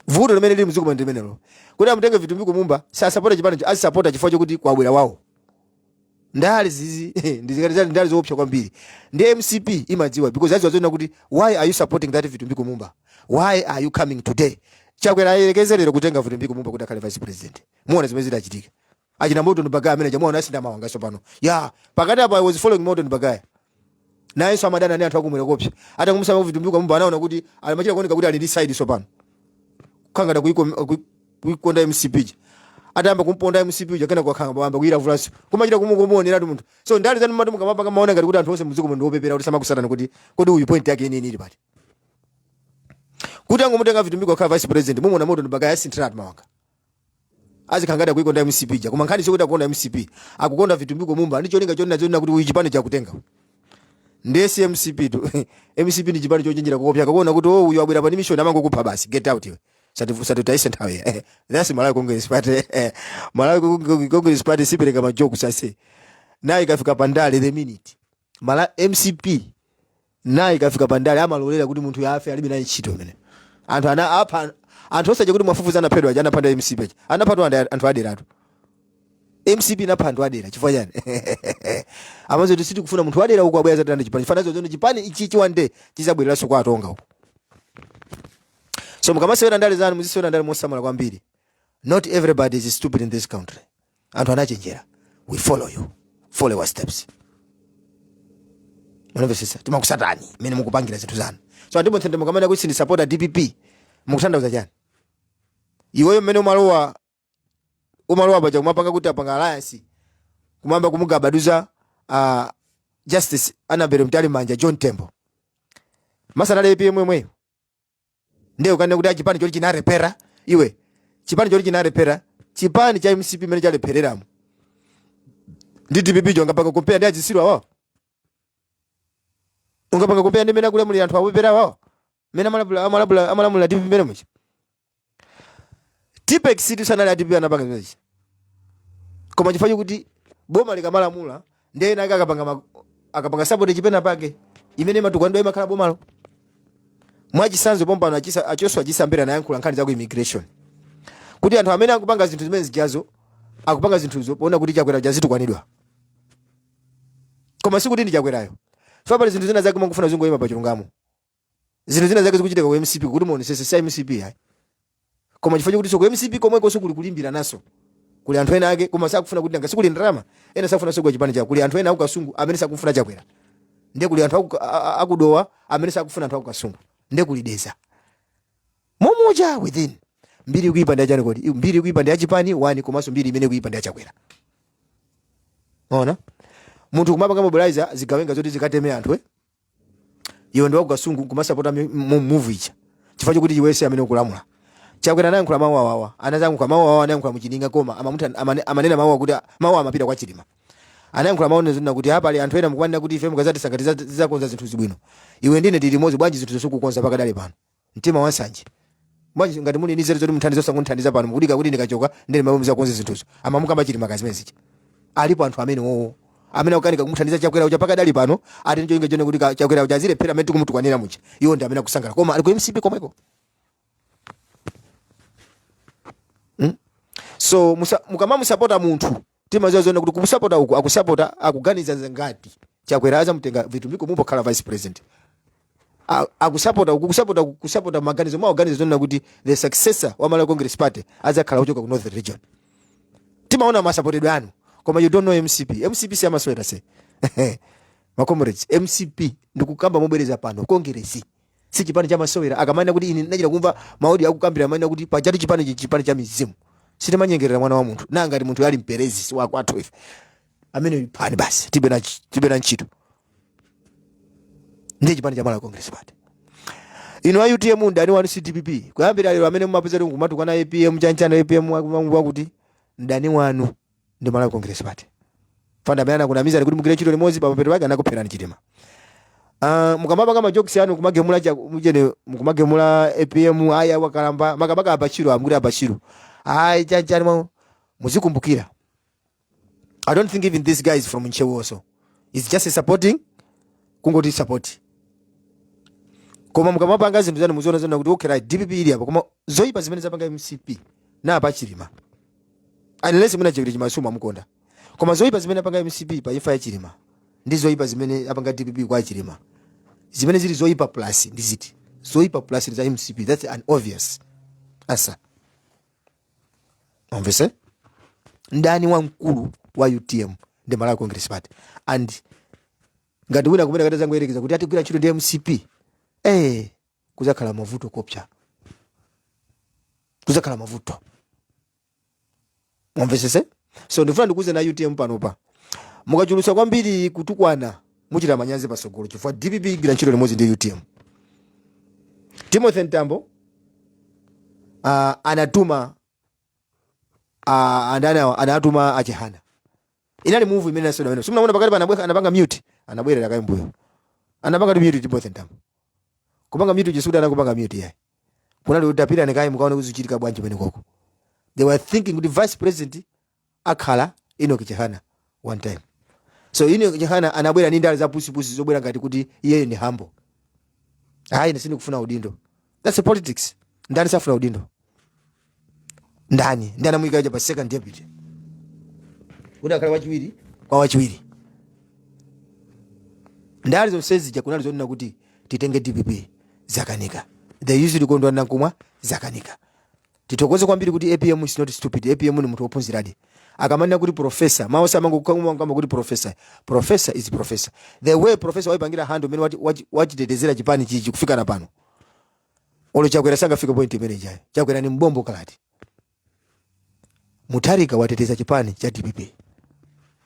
vuto limene lili mdziko muno ndi limenelo kuti amutenge vitumbiko mumba sasapota chipanicho azisapota chifukwa chokuti kwabwera wawo ndale izizi ndiziti ndale ndale zoopsa kwambiri ndi mcp imadziwa because adziwa zoona kuti why are you supporting that vitumbiko mumba why are you coming today chakwera ayerekeze lero kutenga vitumbiko mumba kuti akhale vice president muona zimene zitachitike achina Morton Bagaya amene mwamuona anasintha mawanga tsopano ya pakati apa I was following Morton Bagaya nayenso amadana ndi anthu akumwera koopsa atangomusankha vitumbiko mumba anaona kuti amachita kuoneka kuti ali ndi side tsopano kukhala ngati akuiko- kui- kuikonda mcp ija atayamba kumponda mcp uja kenako wakhala ngati wayamba kuyilavulanso kumachita kumuoneratu munthu so ndale zanu mati mukamapanga mumaona ngati kuti anthu onse mdziko muno ndiwopepera kuti samakusatani kuti kodi uyu point yake yeniyeni ili pati kuti angomutenga vitumbiko kukhala vice president mumuona Morton Bagaya asinthiratu mawanga azikhala ngati akuikonda mcp ja koma nkhani sikuti akukonda mcp akukonda vitumbiko mumba ndi cholinga chonena chonena kuti uyu chipani chakutenga ndiye si mcp tu mcp ndi chipani chochenjera koopsa akaona kuti oh uyu abwera pa mission amangokupha basi get out iwe Sati- satutaise nthawi eh, that's malawi congress party eh, malawi Cong- congress party sipereka ma joke sase naye ikafika pandale the minute mala mcp naye ikafika pandale amalolera kuti munthuyo afe alibe naye ntchito imene anthu ana apha anthu onse aja kuti mwafufuza anaphedwa aja anapha ndi a mcp aja anaphatu andi- anthu aderatu mcp inapha anthu adera chifukwa chani amaziwa kuti sitikufuna munthu wadera uko abwera azalanda chipani chifanazo zono chipani ichi chiwande chizabwereranso kwa atonga uko so mukamasewera ndale zanu muzisewera ndale mosamala kwambiri not everybody is stupid in this country anthu anachenjera we follow you follow your steps mwandimvesesa timakusatani mmene mukupangira zinthu zanu so ati bonse nde mukamanena kuti sindisapota dpp mukutanthauza chani iweyo mmene umalowa umalowa paja kumapanga kuti apanga alliance kumayamba kumugabaduza uh, justice annabel mtalimanja john tembo masana apm yemweyo ndiye ukanena kuti chipani choti chinalephera iwe chipani choti chinalephera chipani cha mcp mmene chalephereramo ndi dpp cho ungapanga compare ndi azitsiru awawo ungapanga compare ndi mene akulamulira anthu opepera awawo mene amalamulira dpp mene muja tipexitu sanali a dpp anapanga zimenechi koma chifukwa chokuti boma likamalamula ndiye ena ake akapanga ma- akapanga sabotage penapake imene imatukwanidwa imakhala bomalo mwachisanzo pompano achisa- a joshua chisa mbele anayankhula nkhani za ku immigration kuti anthu amene akupanga zinthu zimene zijazo akupanga zinthuzo poona kuti chakwera azitukwanidwa koma sikuti ndi chakwerayo so pali zinthu zina zake mukufuna zingoyima pa chilungamo zinthu zina zake zikuchitika ku mcp kuti muonesese si mcp ayi koma chifukwa chokutinso ku mcp komwekonso kuli kulimbirananso kuli anthu ena ake koma sakufuna kuti nanga sikuli ndalama ena sakufuna sogwa chipani chawo kuli anthu ena akukasungu amene sakufuna chakwera ndiye kuli anthu aku- a- a- akudowa amene sakufuna anthu akukasungu ndiye kuli dedza momuja within mbiri ikuipa ndi ya chani kodi mbiri ikuipa ndi ya chipani wani komanso mbiri imene ikuipa ndi ya chakwera ona munthu kumapanga mobilize zigawenga zoti zikateme anthu eh? iwe ndiwakukasungu kumasapota mi- mu- muvu ija chifukwa chokuti iwe si amene ukulamula chakwera anayankhula mawu awawa anayankhula mawu awawa anayankhula muchining'a koma amamuti amane- amanena mawu akuti mawu amapita kwa chilima anayankhula mawu n'zina kuti apa ali anthu ena mukumanena kuti ife mukazatisankha tizakonza zinthu zi bwino iwe ndine tili limodzi bwanji zinthu zosakukonza pakadali pano mtima wansanje bwanji ngati muli ni nzeru zoti munthandiza osangundithandiza pano mukudikira kuti ndikachoka ndiye mawa muzakonze zinthuzo amamukamba chilima kazimene zija alipo anthu amene wowo amene akukanika kumuthandiza chakwera uja pakadali pano ati ntchito ingochedwa kuti ka- chakwera uja azilephera amene tikumutukwanira muja iwo ndi amene akusangala koma ali ku mcp komweko so musa- mukamamusapota munthu timaziwa zona kuti kumusapota uku akusapota akuganiza zangati chakwera azamutenga vitumbiko mumba kukhala vice president A- akusapota uku kusapota uku, kusapota maganizo mwa organiza zona kuti the successor wa malawi congress party azakhala kuchoka ku north region timaona masapotedwe anu koma you don't know mcp mcp siyamasewera se makomrades mcp ndikukamba mobwereza pano kongeresi si chipani cha masewera akamanena kuti ine ndinachita kumva ma audio akukambira amanena kuti pajatu chipani ichi chipani cha mizimu sitimanyengerera mwana wa munthu na ngati munthu ali mperezi wakwathu ife amene iphani basi tibe na ch- tibe na ntchito ndiye chipani cha malawi congress party ino a utm mdani wanu si dpp kuyambira lero amene mumapeza kuti kumatukwana apm chanichani apm akuti mdani wanu ndi Malawi Congress Party anthu amene anakunamizani kuti mugwire ntchito limodzi pamapeto pake anakupherani Chilima Ah, mukamapanga majokisi anu kumagemula cha- mujene mukumagemula apm aya wakalamba makamaka abakili amkuti abakili ayi chanichani ma muzikumbukira i don't think even this guy is from ntcheu also is just supporting kungoti support koma mukamapanga zinthu zanu muziona zona kuti okay right dpp ili apa koma zoyipa zimene zapanga mcp pa chilima Unless mwina Chilima sumamukonda. Koma zoipa zimene apanga MCP pa imfa ya Chilima ndi zoipa zimene apanga DPP kwa Chilima. Zimene zili zoipa plus ndi ziti? Zoipa plus ndi za MCP. That's an obvious answer. Mumvetse? Mdani wamkulu wa UTM ndi Malawi Congress Party. And ngati wina kumene atazangoyerekeza kuti atigwira ntchito ndi MCP. Eh, kuzakhala mavuto koopsa kuzakhala mavuto mumvesese so ndifuna ndikuuzeni a utm panopa mukachulusa kwambiri kutukwana muchita manyazi pasogolo chifukwa dpp igwira ntchito limodzi ndi utm timothy mtambo uh, anatuma uh, andanawa anatuma achihana Inali move imene inasewedwa pamenepo. Simunaona pakati pa anabwera anapanga mute, anabwerera kaye mbuyo. Anapangatu mute Timothy Ntambo. Kupanga mute Jesuda sanakupanga mute yayi. Kunali kuti tapirani kaye mukaone kuti zichitika bwanji pamene koko. They were thinking kuti vice president akhala Enoch Chihana one time. So Enoch Chihana anabwera ndi ndale za pusi pusi zobwera ngati kuti iyeyo ndi humble. Hayi ine sindikufuna udindo. that's a politics ndani safuna udindo ndani ndi anamuyika uja pa second deputy kuti akhale wachiwiri kwa wachiwiri ndale zonse zija kunali zonena kuti titenge dpp zakanika they usually kondwa nankumwa zakanika Tithokoze kwambiri kuti apm is not stupid apm ni munthu wophunziradi akamanena kuti professor mwawo samangokamba kuti professor professor is professor the way professor waipangira handle mmene wati- wachi- wachitetezera chipani chichi kufika napo pano olo chakwera sangafike point imene ijayo chakwera ni mbombo kalata mutharika wateteza chipani cha dpp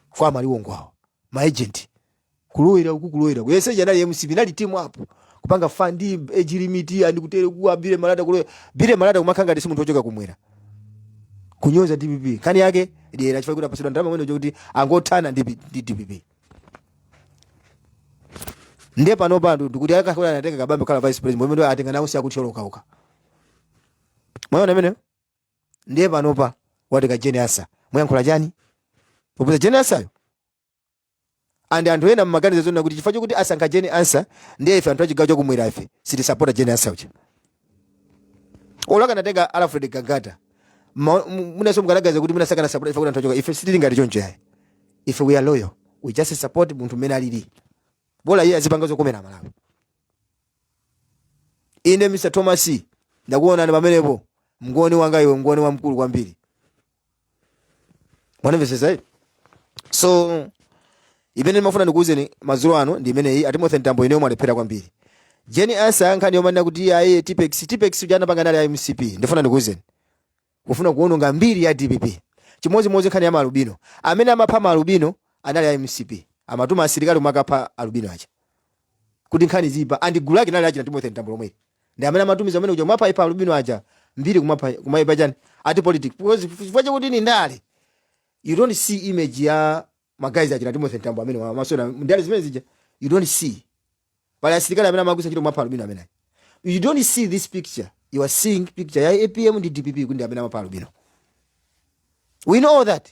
kwa amaliwongwawo maagent kulowera uku kulowera kuyesetsa anali mcp anali team up kupanga fund age limit and kutere kuwa Bili Malata kulowera Bili Malata kumakhala ngati si munthu wochoka kumwera kunyoza dpp nkhani yake dyera chifukwa kuti apasidwa ndalama amwene kuti angothana ndi P- ndi dpp ndiye pano pa anthu ndikuti akanakhala anatenga kabambe kukhala vice president pomwe ndo atenga nawo si a ku Thyolo kapena mwaona imeneyo ndiye panopa watenga jane ansa muyankhula chani popeza jane ansayo and anthu ena mmaganiza zonena kuti chifukwa chokuti asankha jane ansa ndiye ife anthu achigawo chakumwera ife sitisapota jane ansa uja olo akanatenga alfred gangata mma- mu- mwinaso mukanaganiza kuti mwina sakanasapota ife kuti anthu ochoka ife sitili ngati choncho yayi ife we are loyal we just support munthu mmene alili bola iye azipanga zokomera malawi ine mr thomas ndakuonani pamenepo mngoni wanga iwe mngoni wamkulu kwambiri mwanamvetsetsa eti so imene ndimafuna ndikuwuzeni madzulo ano ndi imeneyi a timothy mtambo ineyo mwalephera kwambiri jane ansa nkhani yomanena kuti aye tipex tipex uja anapanga nali a mcp ndifuna ndikuwuzeni kufuna kuwononga mbiri ya dpp chimodzimodzi nkhani ya maalubino amene amapha maalubino anali a mcp amatuma asilikali kumakapha alubino aja kuti nkhani ziipa and gulu lake nali achina Timothy Mtambo lomweli ndi amene amatumiza amene uja kumapha ipa alubino aja mbiri kumapha kumaipa chani ati politics because chifukwa chakuti ni ndale you don't see image ya magazi achina Timothy Mtambo amene wa- masona ndale zimene zija you don't see pali asilikali amene amagwiritsa ntchito kumapha alubino amene you don't see this picture you are seeing picture ya APM ndi DPP kuti ndi amene amapha alubino we know all that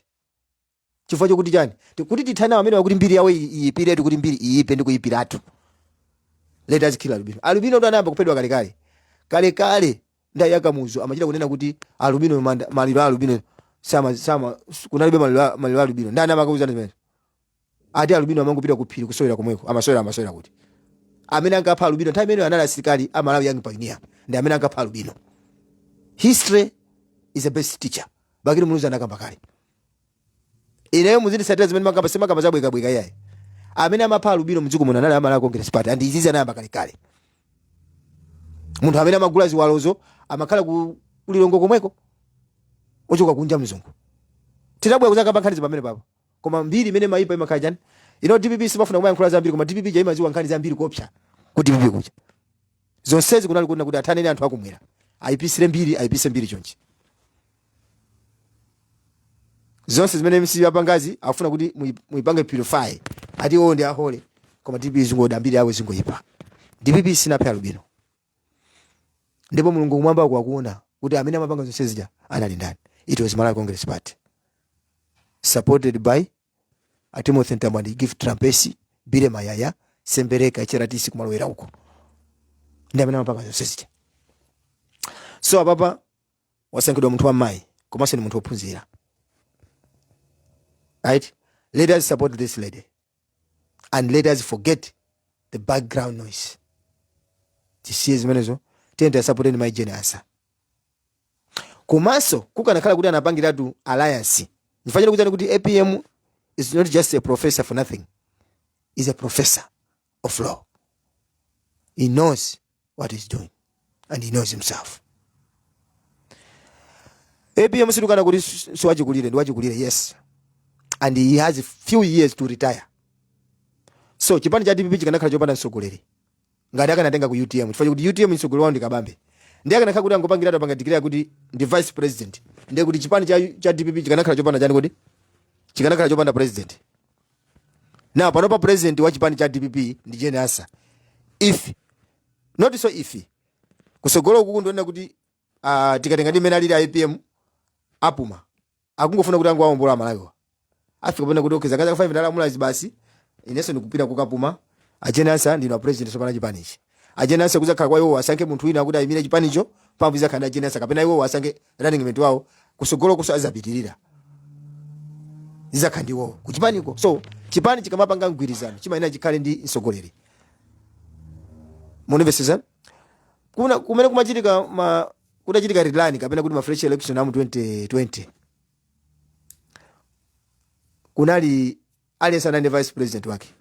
chifukwa chakuti chani Ti- kuti tithane nawo amenewa kuti mbiri yawo iyi- iyipiretu kuti mbiri iyipe ndi kuyipiratu let us kill albino albino ndo anayamba kuphedwa kalekale kalekale nthawi ya Kamuzu amachita kunena kuti albino manda- maliro a albino sama sama kunalibe maliro a- maliro a albino ndani amakuuzani zimene ati albino amangopita ku phiri kusowera komweko amasowera amasowera kuti amene ankapha albino nthawi imeneyo anali asilikali a malawi young pioneer ndi amene ankapha albino history is the best teacher bakili muluzi anakamba kale ineyo muzindisatira zimene ndimakamba sindimakamba zabwekabweka iyayi amene amapha alubino mdziko muno anali a malawi congress party and izizi anayamba kalekale munthu amene amagula ziwalozo amakhala ku lilongwe komweko ochoka kunja mzungu tinabwera kuzakamba nkhani zi pamenepapo koma mbiri imene imayipa imakhala chani inu dpp simafuna kumayankhula zambiri koma dpp ja imaziwa nkhani zambiri koopsa ku dpp kuja zonsezi kunali kunena kuti athane ni anthu akumwera ayipisire mbiri ayipise mbiri chonchi zonse zimene mcp yapangazi akufuna kuti muyi- muyipange purify ati owo ndi a holy koma dpp zingoda mbiri yawo zingoyipa dpp sinaphe alubino ndipo mulungu kumwamba uko akuona kuti amene amapanga zonse zija anali ndani it was malawi congress party supported by a timothy mtambo and gift trapence billy mayaya sembereka HRDC kumalowera uko ndi amene amapanga zonse zija so apapa wasankhidwa munthu wammayi komanso ni munthu wophunzira right let us support this lady and let us forget the background noise tisiye zimenezo tiyeni tiwasapoteni mayi jane ansa komanso kukanakhala kuti anapangiratu alliance ndifunika ndikuuzeni kuti apm is not just a professor for nothing he's a professor of law he knows what he's doing and he knows himself apm sitikukana kuti si- si wachikulire ndi wachikulire yes and he has few years to retire so chipani cha dpp chikanakhala chopanda mtsogoleri ngati akanatenga ku utm chifukwa kuti utm mtsogoleri wawo ndi kabambe ndiye akanakhala kuti angopangira atapanga declare kuti ndi vice president ndiye kuti chipani cha, cha dpp chikanakhala chopanda chani kodi chikanakhala chopanda president now panopa president wa chipani cha dpp ndi jane ansa if not so if kusogolo kuku ndikunena kuti uh, tikatenga ndi mmene alili a apm apuma akungofuna kuti angowaombola amalawiwa afike pamene kuti okay zaka zanga 5 ndalamulazi basi inenso ndikupita kukapuma a jane ansa ndinu apresident sopano a chipanichi a jane ansa kuzakhala kwa iwo asankhe munthu wina kuti ayimire chipanicho pambu izakhala ndi a jane ansa kapena iwo asankhe running mate wawo kusogoloko so azapitirira zizakha ndiwowo kuchipaniko so chipani chikamapanga mgwirizano chimayenera chikhale ndi mtsogoleri munimvesesa kuna kumene kumachitika ma kudachitika rerun kapena kuti ma fresh election amu 2020 kunali aliyense anali ndi vice president wake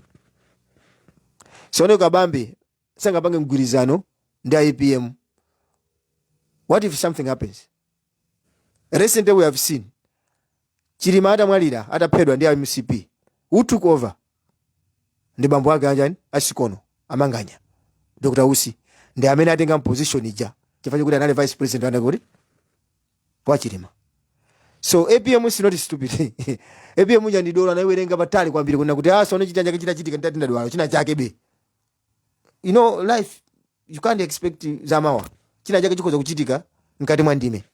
sono kabambe sangapange mgwirizano ndi apm what if something happens recently we have seen chilima atamwalira ataphedwa ndi mcp who took over ndi bambo ake anjani a sikono a manganya dr usi ndi amene atenga position ija chifukwa choti anali vice president anake kuti wa chilima so apm is not stupid apm uja ndi dolo anayiwerenga patali kwambiri kunena kuti sono china chake chinachitika ndati ndadwala china chake be you know life you can't expect zamawa china chake chikhoza kuchitika mkati mwa ndime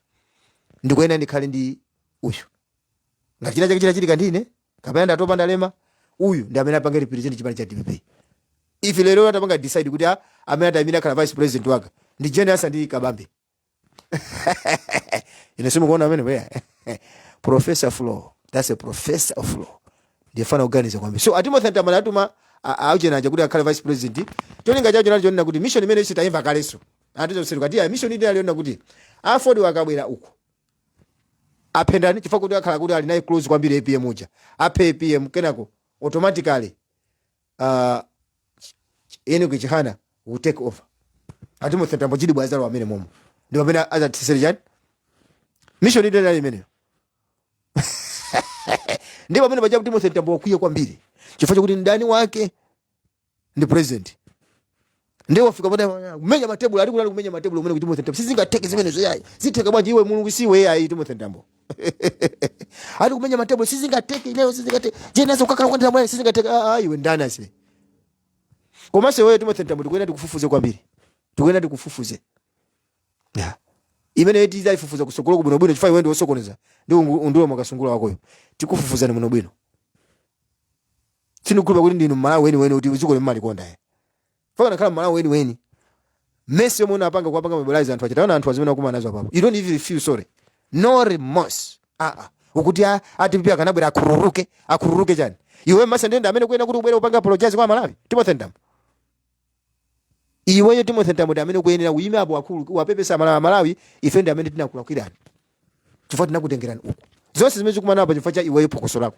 ndikuyenera ndikhale ndi uyu ngati china chake chitachitika ndine kapena ndatopa ndalema uyu ndi amene apange represent chipani cha dpp if lero atapanga decide kuti ah, amene atayimire akhale vice president wake ndi jane ansah ndi kabambe inu simukuona amene bweya professor of law that's a professor of law ndi mfana oganiza kwambiri so a timothy mtambo atuma a chihana aja kuti akhale vice president cholinga chacho nacho chonena kuti mission imene ife tayimva kaleso atizosero kati ya mission inali yonena kuti aford akabwera uko aphe ndani chifukwa kuti akhala kuti ali naye close kwambiri apm uja aphe apm kenako automatically ah, ch- ch- enock chihana will take over a timothy mtambo chidi bwa azalowa mmenemomo ndi pamene azatisere chani mission ide ndali imeneyo ndi pamene paja timothy mtambo wakwiya kwambiri chifukwa chakuti mdani wake ndi president ndiye wafika poti kumenya matebulo ali kulali kumenya matebulo kunena kuti Timothy Mtambo sizingatheke zimenezo yayi zitheka bwanji iwe mulungu siwe yayi Timothy Mtambo ali kumenya matebulo sizingatheke lero sizingatheke Jane Ansah akakhala kwenda mwana sizingatheke ah ah, iwe ndani asibe komanso iweyo Timothy Mtambo tikuyenera tikufufuze kwambiri tikuyenera tikufufuze yeah imeneyi tizayifufuza kusogoloku bwino bwino chifukwa iwe ndi wosokoneza ndi ungu- Undule Mwakasungula wakoyo tikufufuzani bwino bwino sindikukhulupirira kuti ndinu mmalawi weniweni kuti dzikoli umalikonda ya ukanakhala mmalawi weniweni mess yomwe unapanga kuwapanga mobilize anthu aja taona anthu zimene akumana nazo apapo you don't even feel sorry no remorse aa ukuti a- a dpp akanabwera akhururuke akhururuke chani iwe masa ndende amene ukuyenera kuti ubwere upange apologize kwa amalawi timothy mtambo iweyo timothy mtambo ndi amene ukuyenera uyime apo pagulu uwapepese amalawi amalawi ife ndi amene tinakulakwirani chifukwa tinakutengerani uku zonse zimene zikumana apa chifukwa cha iweyo phokoso lako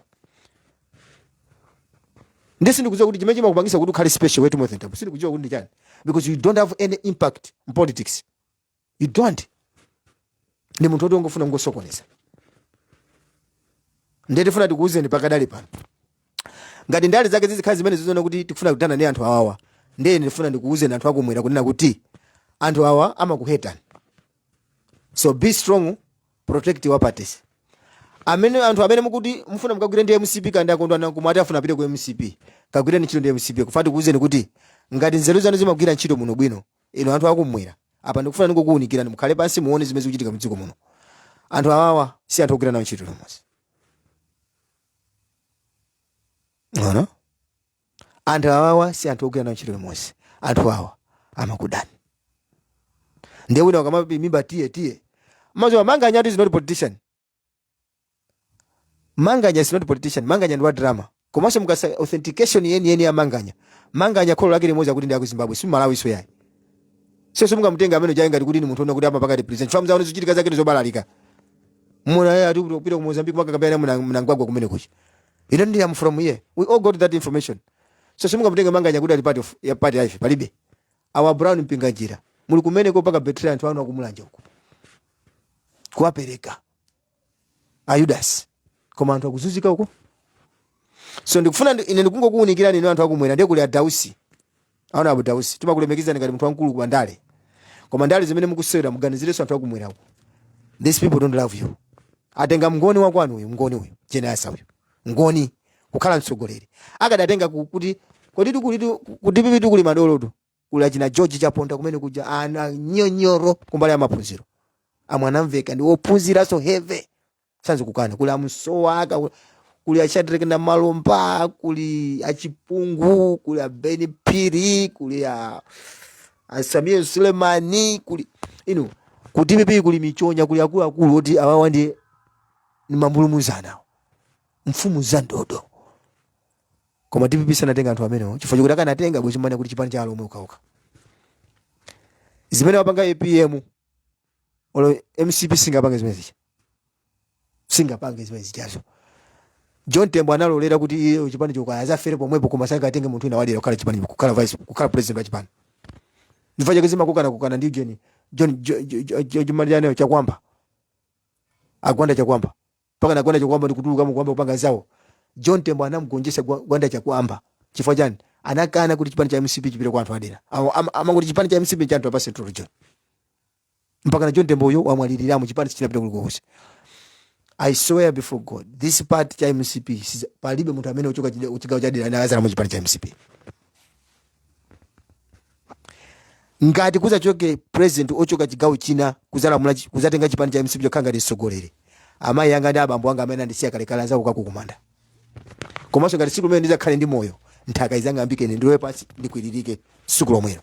ndi sindikudziwa kuti chimene chimakupangisa kuti ukhale special iwe timothy mtambo sindikudziwa kuti ndi chani because you don't have any impact in politics you don't ndi munthu woti ungofuna kungosokoneza ndiye tifuna tikuwuzeni pakadali pano ngati ndale zake zizikhala zimene zizoona kuti tikufuna kudana ndi anthu awawa ndiye ine ndifuna ndikuwuzeni anthu akumwera kunena kuti anthu awa amakuhetani so be strong protect your parties amene anthu amene mukuti mufuna mukagwire ndi mcp kandi akondwana kumwe ati afuna apite ku mcp kagwireni ntchito ndi mcp koma tikuwuzeni kuti ngati nzeru zanu zimagwira ntchito muno bwino inu anthu akumwera apa ndikufuna ndikukuunikirani mukhale pansi muone zimene zikuchitika mdziko muno anthu awawa si anthu ogwira nawo ntchito limodzi no no anthu awawa si anthu ogwira nawo ntchito limodzi anthu awa amakudani ndiye wina ukamapimimba tiye tiye mwa za manganya is not politician manganya is not politician manganya ndi wa drama komanso mukasaka authentication yeniyeni ya manganya manganya kholo lake limodzi akuti ndi aku zimbabwe si mmalawinso ayi so simungamutenga amene uja ngati kuti ndi munthu ona kuti amapanga represent famu zaone zochitika zake ndizobalalika muna yeye ati kupita ku mozambique makakambirana muna mnangwagwa kumene kuja ine ndi am from here we all got that information so simungamutenga manganya kuti ali part of ya part ya ife palibe Awo a Brown Mpinganjira muli kumeneko kupanga betray anthu anu akumulanje uko. Kuwapereka a Yudasi. Koma anthu akuzunzika uko. So ndikufuna ndi- ine ndikungokuunikirani inu anthu akumwera ndiye kuli a Dausi. Honourable Dausi. Timakulemekezani ngati munthu wamkulu kwa ndale. Koma ndale zimene mukusewera muganizirenso anthu akumwera uko. These people don't love you. Atenga mngoni wakwanu uyu, mngoni uyu, Jane Ansah uyu. mngoni kukhala mtsogoleri akadatenga ku- ku DPP tu kulitu ku DPP tu kuli madolotu kuli achina george chaponda kumene kuja ana nyonyoro kumbali ya maphunziro amwanamveka ndi wophunziranso heavy sizokukana kuli amsowa aka ku- kuli ashadrek namalomba kuli achipungu kuli abeni phiri kuli a sameer sulemani kuli inu ku DPP kuli michonya kuli akuluakulu oti awawa ndi ni mambulumuzana mfumu za ndodo koma dpp sanatenga anthu amenewo chifukwa chikuti akanatenga bwezi mwanena kuti chipani cha alomwe ukauka zimene wapanga apm olo mcp singapange zimene zicha singapange zimene zichazo john tembo analolera kuti iye chipani cho kaya azafere pomwepo koma sangatenge munthu wina wadera kukhala chipani kukhala vice kukhala president wa chipani ndi chifukwa chake amakangana kangana ndi john john Jo- Jo- Jo- Jo- chimani chaneyo chakwamba agwanda chakwamba mpakana gwanda chakwamba ndikutuluka mukwamba kupanga zawo john tembo anamgonjesa gwa- gwanda chakwamba chifukwa chani anakana kuti chipani cha mcp chipite kwa anthu adera Awo ama- amangoti chipani cha mcp cha anthu apa central region mpakana john tembo uyo wamwaliliramo chipani sichinapita kulikonse i swear before god this party cha mcp siza- palibe munthu amene uchoka chigawo cha dera anakazana mu chipani cha mcp ngati kuzachoke president ochoka chigawo china kuzalamula chi- kuzatenga chipani cha mcp chokhala ngati mtsogoleri amayi anga ndi abambo anga amene andisiya kalekale ndizakukakukumanda kumanso ngati siku lomwe ndizakhale ndi moyo nthaka izang'ambike ine ndilowe pansi ndikwiririke siku lomwelo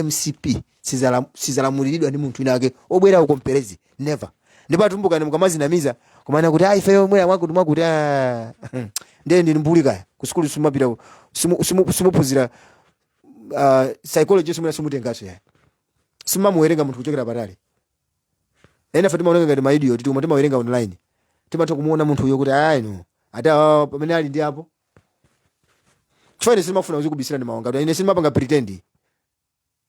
mcp Sizala- sizalamuliridwa ndi munthu wina wake obwera uko mperezi never ndipo atumbukani mukamazinamiza kumana kuti ayi ifeyo omwera mwakuti mwakuti ah, ndiye ndinu mbuli kaya kusukulu simapita ku- simu- simu- simuphunzira ah, psychology simuna simutengaso yayi simumamuwerenga munthu kuchokera patali ena fe timaoneka ngati maidiot tikoma timawerenga online timatha kumuona munthu uyo kuti ayi no ati awa pamene ali ndi apo chifukwa ine simafuna kuzikubisira ndi mawanga ine simapanga pretend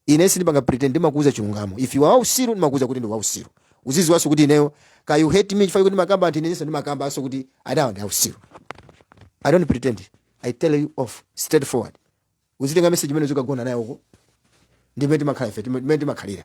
ine sindipanga pretend ndimakuuza chilungamo if you are usiru ndimakuuza kuti ndi wausiru uziziwanso kuti ineyo ka you hate me chifukwa kuti ndimakamba anthu inenso ndimakambaso kuti adawa ndi ausiru i don't pretend i tell you off straight forward uzitenga message imene uzikagona nayo uko ndimene timakhala ife ndimene timakhalira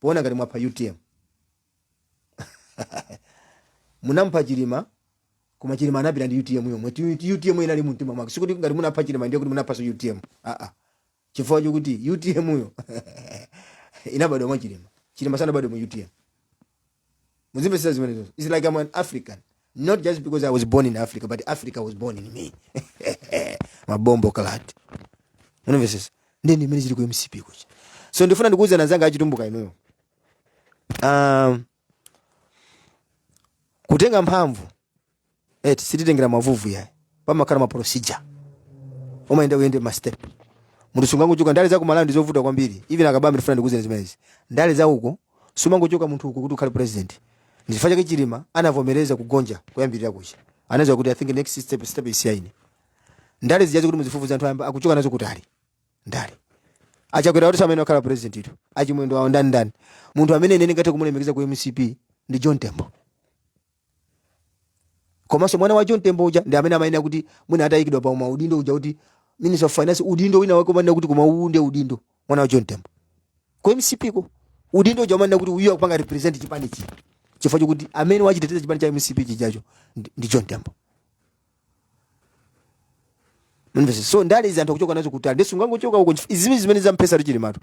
poona ngati mwapha utm munamupha chilima koma chilima anapita ndi utm yo mwati utm yo inali mu mtima mwake sikuti ngati munapha chilima ndiye kuti munaphanso utm aa chifukwa chokuti utm yo inabadwa mwa chilima chilima sanabadwe mu utm muzimvetsetsa zimenezo its like i'm an african not just because i was born in africa but africa was born in me mabombo kalati unamvetsetsa nde ndimene zili ku mcp kuja so ndifuna ndikuuzeni anzanga achitumbuka inuyo um, kutenga mphamvu eti sititengera mavuvu yayi pamakhala ma procedure umayenera uyende ma step munthu sungangochoka ndale za ku Malawi ndizovuta kwambiri even akabambe ndifuna ndikuuzeni zimenezi ndale za uko sumangochoka munthu uko kuti ukhale president ndichifukwa chake chilima anavomereza kugonja kuyambirira kuja anaziwa kuti i think next step step ndi yaine ndale zijazi kuti muzifufuze anthu ayamba akuchoka nazo kutali ndale achakwera kuti asamene akhala president ito achimwendo awo ndani ndani munthu amene ine ndingathe kumulemekeza ku mcp ndi john tembo komanso mwana wa john tembo uja ndi amene amayenera kuti mwina atayikidwa pa maudindo uja kuti minister of finance udindo wina wake umanena kuti koma uwu ndiye udindo mwana wa john tembo ku mcp ko udindo uja umanena kuti uyu akupanga represent chipani chi chifukwa chokuti amene wachiteteza chipani cha mcp chijacho ndi- ndi john tembo Mumvetse. so ndale izi anthu akuchoka nazo kutali ndiye sungangochoka uko chif- izi zimene zimene zamphetsa chilimatu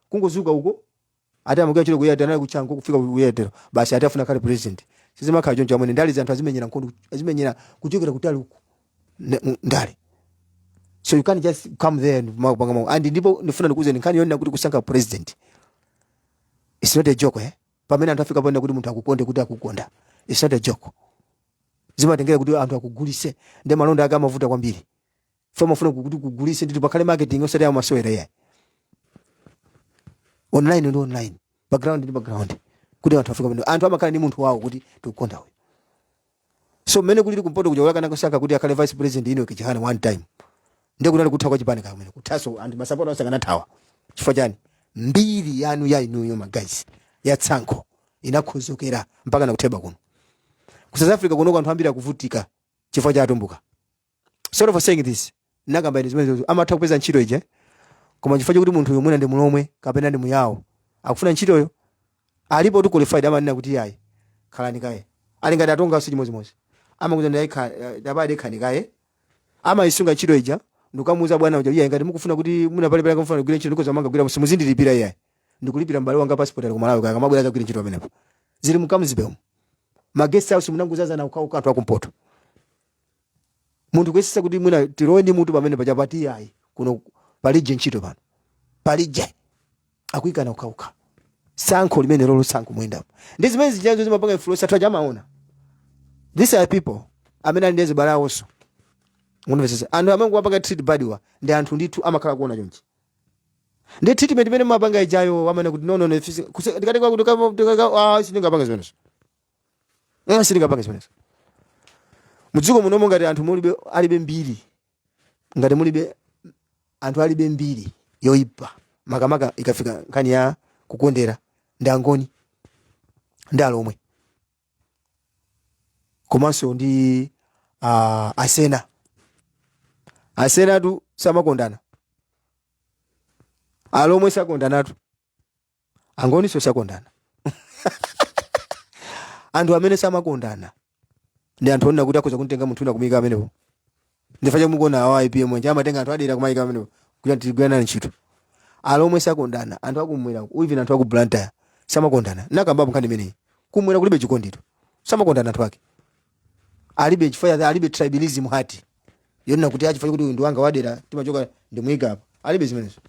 kungozuka uko Ati amagwira ntchito ku Airtel anali kutchanko kufika ku Airtel basi ati afuna akhale president. Sizimakhala choncho alipo ndale zanthu azimenyera nkhondo azimenyera kuchokera kutali uku ne- mu- ndale. So you can't just come there and ma- panga mau. And ndipo ndifuna ndikuuzeni nkhani yonena kuti kusankha president. It's not a joke eh. Pamene anthu afika ponena kuti anthu akukonde kuti akukonda. It's not a joke. Zimatengera kuti anthu akugulise ndi malonda ake amavuta kwambiri. fo mafuna kuti kugulise nditi pakhale marketing osati yamasewera yayi online ndi online background ndi background kuti anthu afika pano anthu amakhala ndi munthu wawo kuti tikukonda uyu so mmene kulili kumpoto kuja akanamusankha kuti akhale vice president enock chihana one time ndiye kunali kutha kwa chipani kamene kuthaso anthu masapota onse akanathawa chifukwa chani mbiri yanu ya inuyo ma guys ya tsankho inakhuzukira mpaka nakutheba kuno ku south africa kunoko anthu ambiri akuvutika chifukwa cha atumbuka sorry for saying this nakamba ine zimenezo amatha kupeza ntchito ija koma chifukwa chokuti munthu uyu mwina ndi mulomwe kapena ndi muyawo akufuna ntchitoyo alipotu qualified amanena kuti yayi khalani kaye ali ngati atongaso chimodzimodzi amakuuza ndi dabade khani kaye amayisunga ntchito ija ndikukamuuza bwana uja iye ngati mukufuna kuti muna pale pale kamfuna kugwira ntchito ndikhoza kumangogwira simuzindilipira iye ndikulipira m'bale wanga passport ali ku Malawi kaya akamabwera akagwira ntchito pamenepo zili mukamuzibemo ma guest house munangozazana okhaokha anthu akumpoto munthu kuyesesa kuti mwina tilowe ndi mutu pamene paja ati ayi kuno palije ntchito pano palije akuyikana okhaokha sankho limenelolo sankho muyendamo ndi zimene zijazo zimapanga influence anthu aja amaona these are people amene ali ndi azibale awonso munamvesesa anthu amene kuwapanga treat badiwa ndi anthu ndithu amakhala kuona chonchi ndi treatment imene mumapanga ijayo amene kuti no no no fisi- kuse- tikati kwa- kutoka- kutoka- ah, sindingapanga zimenezo mwa sitingapange zimenezo mudziko munomo ngati anthu mulibe alibe mbiri ngati mulibe anthu alibe mbiri yoipa makamaka ikafika nkhani ya kukondera ndi angoni ndi alomwe komanso ndi uh, asena asenatu samakondana alomwe sakondanatu angoninso sakondana anthu amene samakondana ndi anthu onena kuti akhoza kumutenga munthu wina kumuyika pamenepo ndichifukwa chake mukuona awa apm anje amatenga anthu adera kumayika pamenepo kuti antigwirana ntchito alomwe sakondana anthu akumwera uku, even anthu aku blantyre samakondana nakambapo nkhani imeneyi kumwera kulibe chikondito samakondana anthu ake alibe chifukwa cha- alibe tribalism heart yonena kuti achifukwa kuti uyu ndi wanga wadera timachoka ndimuyika apa alibe zimenezo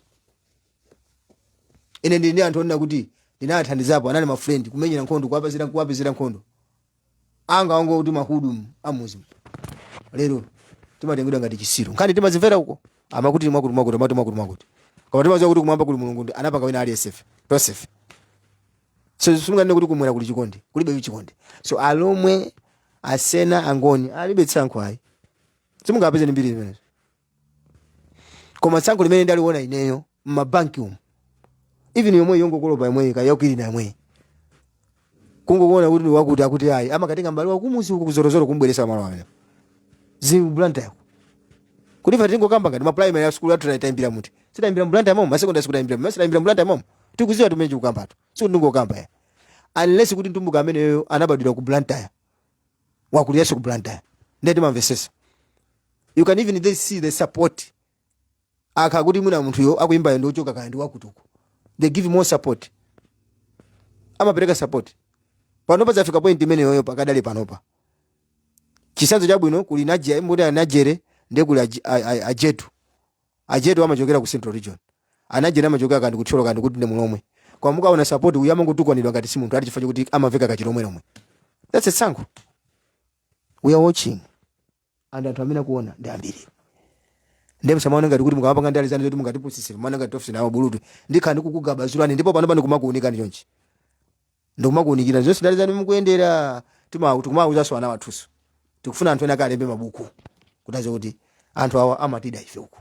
ine ndili ndi anthu onena kuti ndinawathandizapo anali ma friend kumenyera nkhondo kuwapezera kuwapezera nkhondo anga wango kuti ma hood amuzi lero timatengedwa ngati chisiru nkhani timazimvera uko amwakuti mwakuti mwakuti amati mwakuti mwakuti koma timaziwa kuti kumwamba kuli mulungu ndi anapanga wina aliyesefe tosefe so simunganene kuti kumwera kuli chikondi kulibe chikondi so alomwe asena angoni alibe tsankho ayi simungapeze ndi mbiri zimenezo koma tsankho limene ndaliona ineyo mmabanki umu even yomweyi yongokolopa yomweyi kaya yakwirina yomweyi kungokuona kuti wakuti akuti ayi amakatenga mbali wakumuzi uku kuzorozoro kumbweresa malo amene zi Blantyre kuti ife tingokamba ngati ma primary school athu tayimbira kuti sitayimbira m'Blantyre momo ma secondary school tayimbira kuti sitayimbira m'Blantyre momo tikuziwa timenye kukambatu sikuti ndingokamba ya unless kuti mtumbuka ameneyo anabadwira ku blantyre wakuliranso ku blantyre ndiye timamvesesa you can even see the support akakhala kuti mwina munthuyo akuyimbayo ndi wochoka kaya ndi wakutuko they give more support amapereka support panopa zafika point imeneyoyo pakadali panopa chisanzo chabwino kuli Najere moti a Najere ndiye kuli aji- a- a- ajetu Ajetu amachokera ku central region. A Najere amachokera kaya ndi ku Thyolo kaya ndi kuti ndi Mlomwe. Koma mukaona support uyu amangotukwanidwa ngati si munthu ati chifukwa chokuti amaveka kachilomwe lomwe. That's a tsankho. We are watching. And anthu amene akuona ndi ambiri. Ndiye musamaone ngati kuti mukapanga ndale zanu zoti mungatipusisire. Muona ngati tofisi nawo bulutu. Ndikhala ndikukugabazulani ndipo panopa ndikumakuunikani chonchi. ndikumakuunikira zonse ndale zanu mukuyendera tima- tikumawuzanso ana athunso tikufuna anthu ena akalembe mabuku kuti adziwe kuti anthu awa amatida ife uku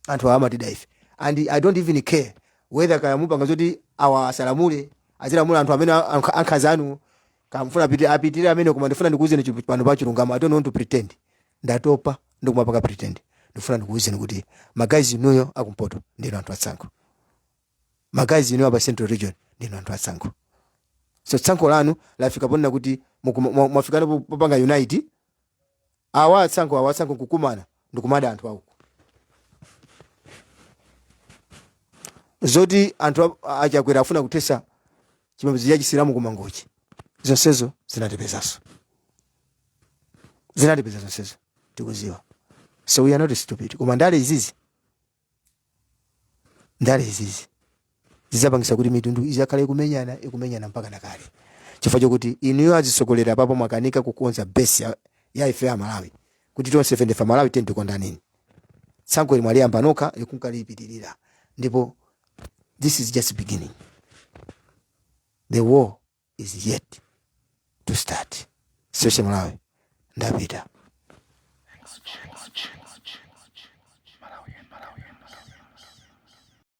anthu awa amatida ife and i don't even care whether kaya mupanga zoti awa asalamule azilamula anthu amene ankha- ankhanza anu kaya mufuna apiti- apitirire amene koma ndifuna ndikuwuzeni chi- pano pa chilungamo i don't want to pretend ndatopa ndikumapanga pretend ndifuna ndikuwuzeni kuti ma guys inuyo akumpoto ndinu anthu atsankho ma guys inu apa central region ndinu anthu atsankho so tsankho lanu lafika ponena kuti mukuma- mwa- mwafikana po- popanga unite awa atsankho awa atsankho kukumana ndikumada anthu a uko zoti anthu a- a Chakwera afuna kuthesa chipembedzo cha chisilamu kumangochi zonsezo zinatipezanso zinatipeza zonsezo tikuziwa so we are not stupid koma ndale izizi ndale izizi zizapangisa kuti mitundu izakhala ikumenyana ikumenyana mpaka nakale chifukwa chokuti inuyo azisogoleri apapo mwakanika kukonza base ya, ya ife ya malawi kuti tonsefe ndife malawi tiyeni tikondaneni tsankho ili mwaliyamba nokha likunkalilipitirira ndipo this is just beginning the war is yet to start seshe malawi ndapita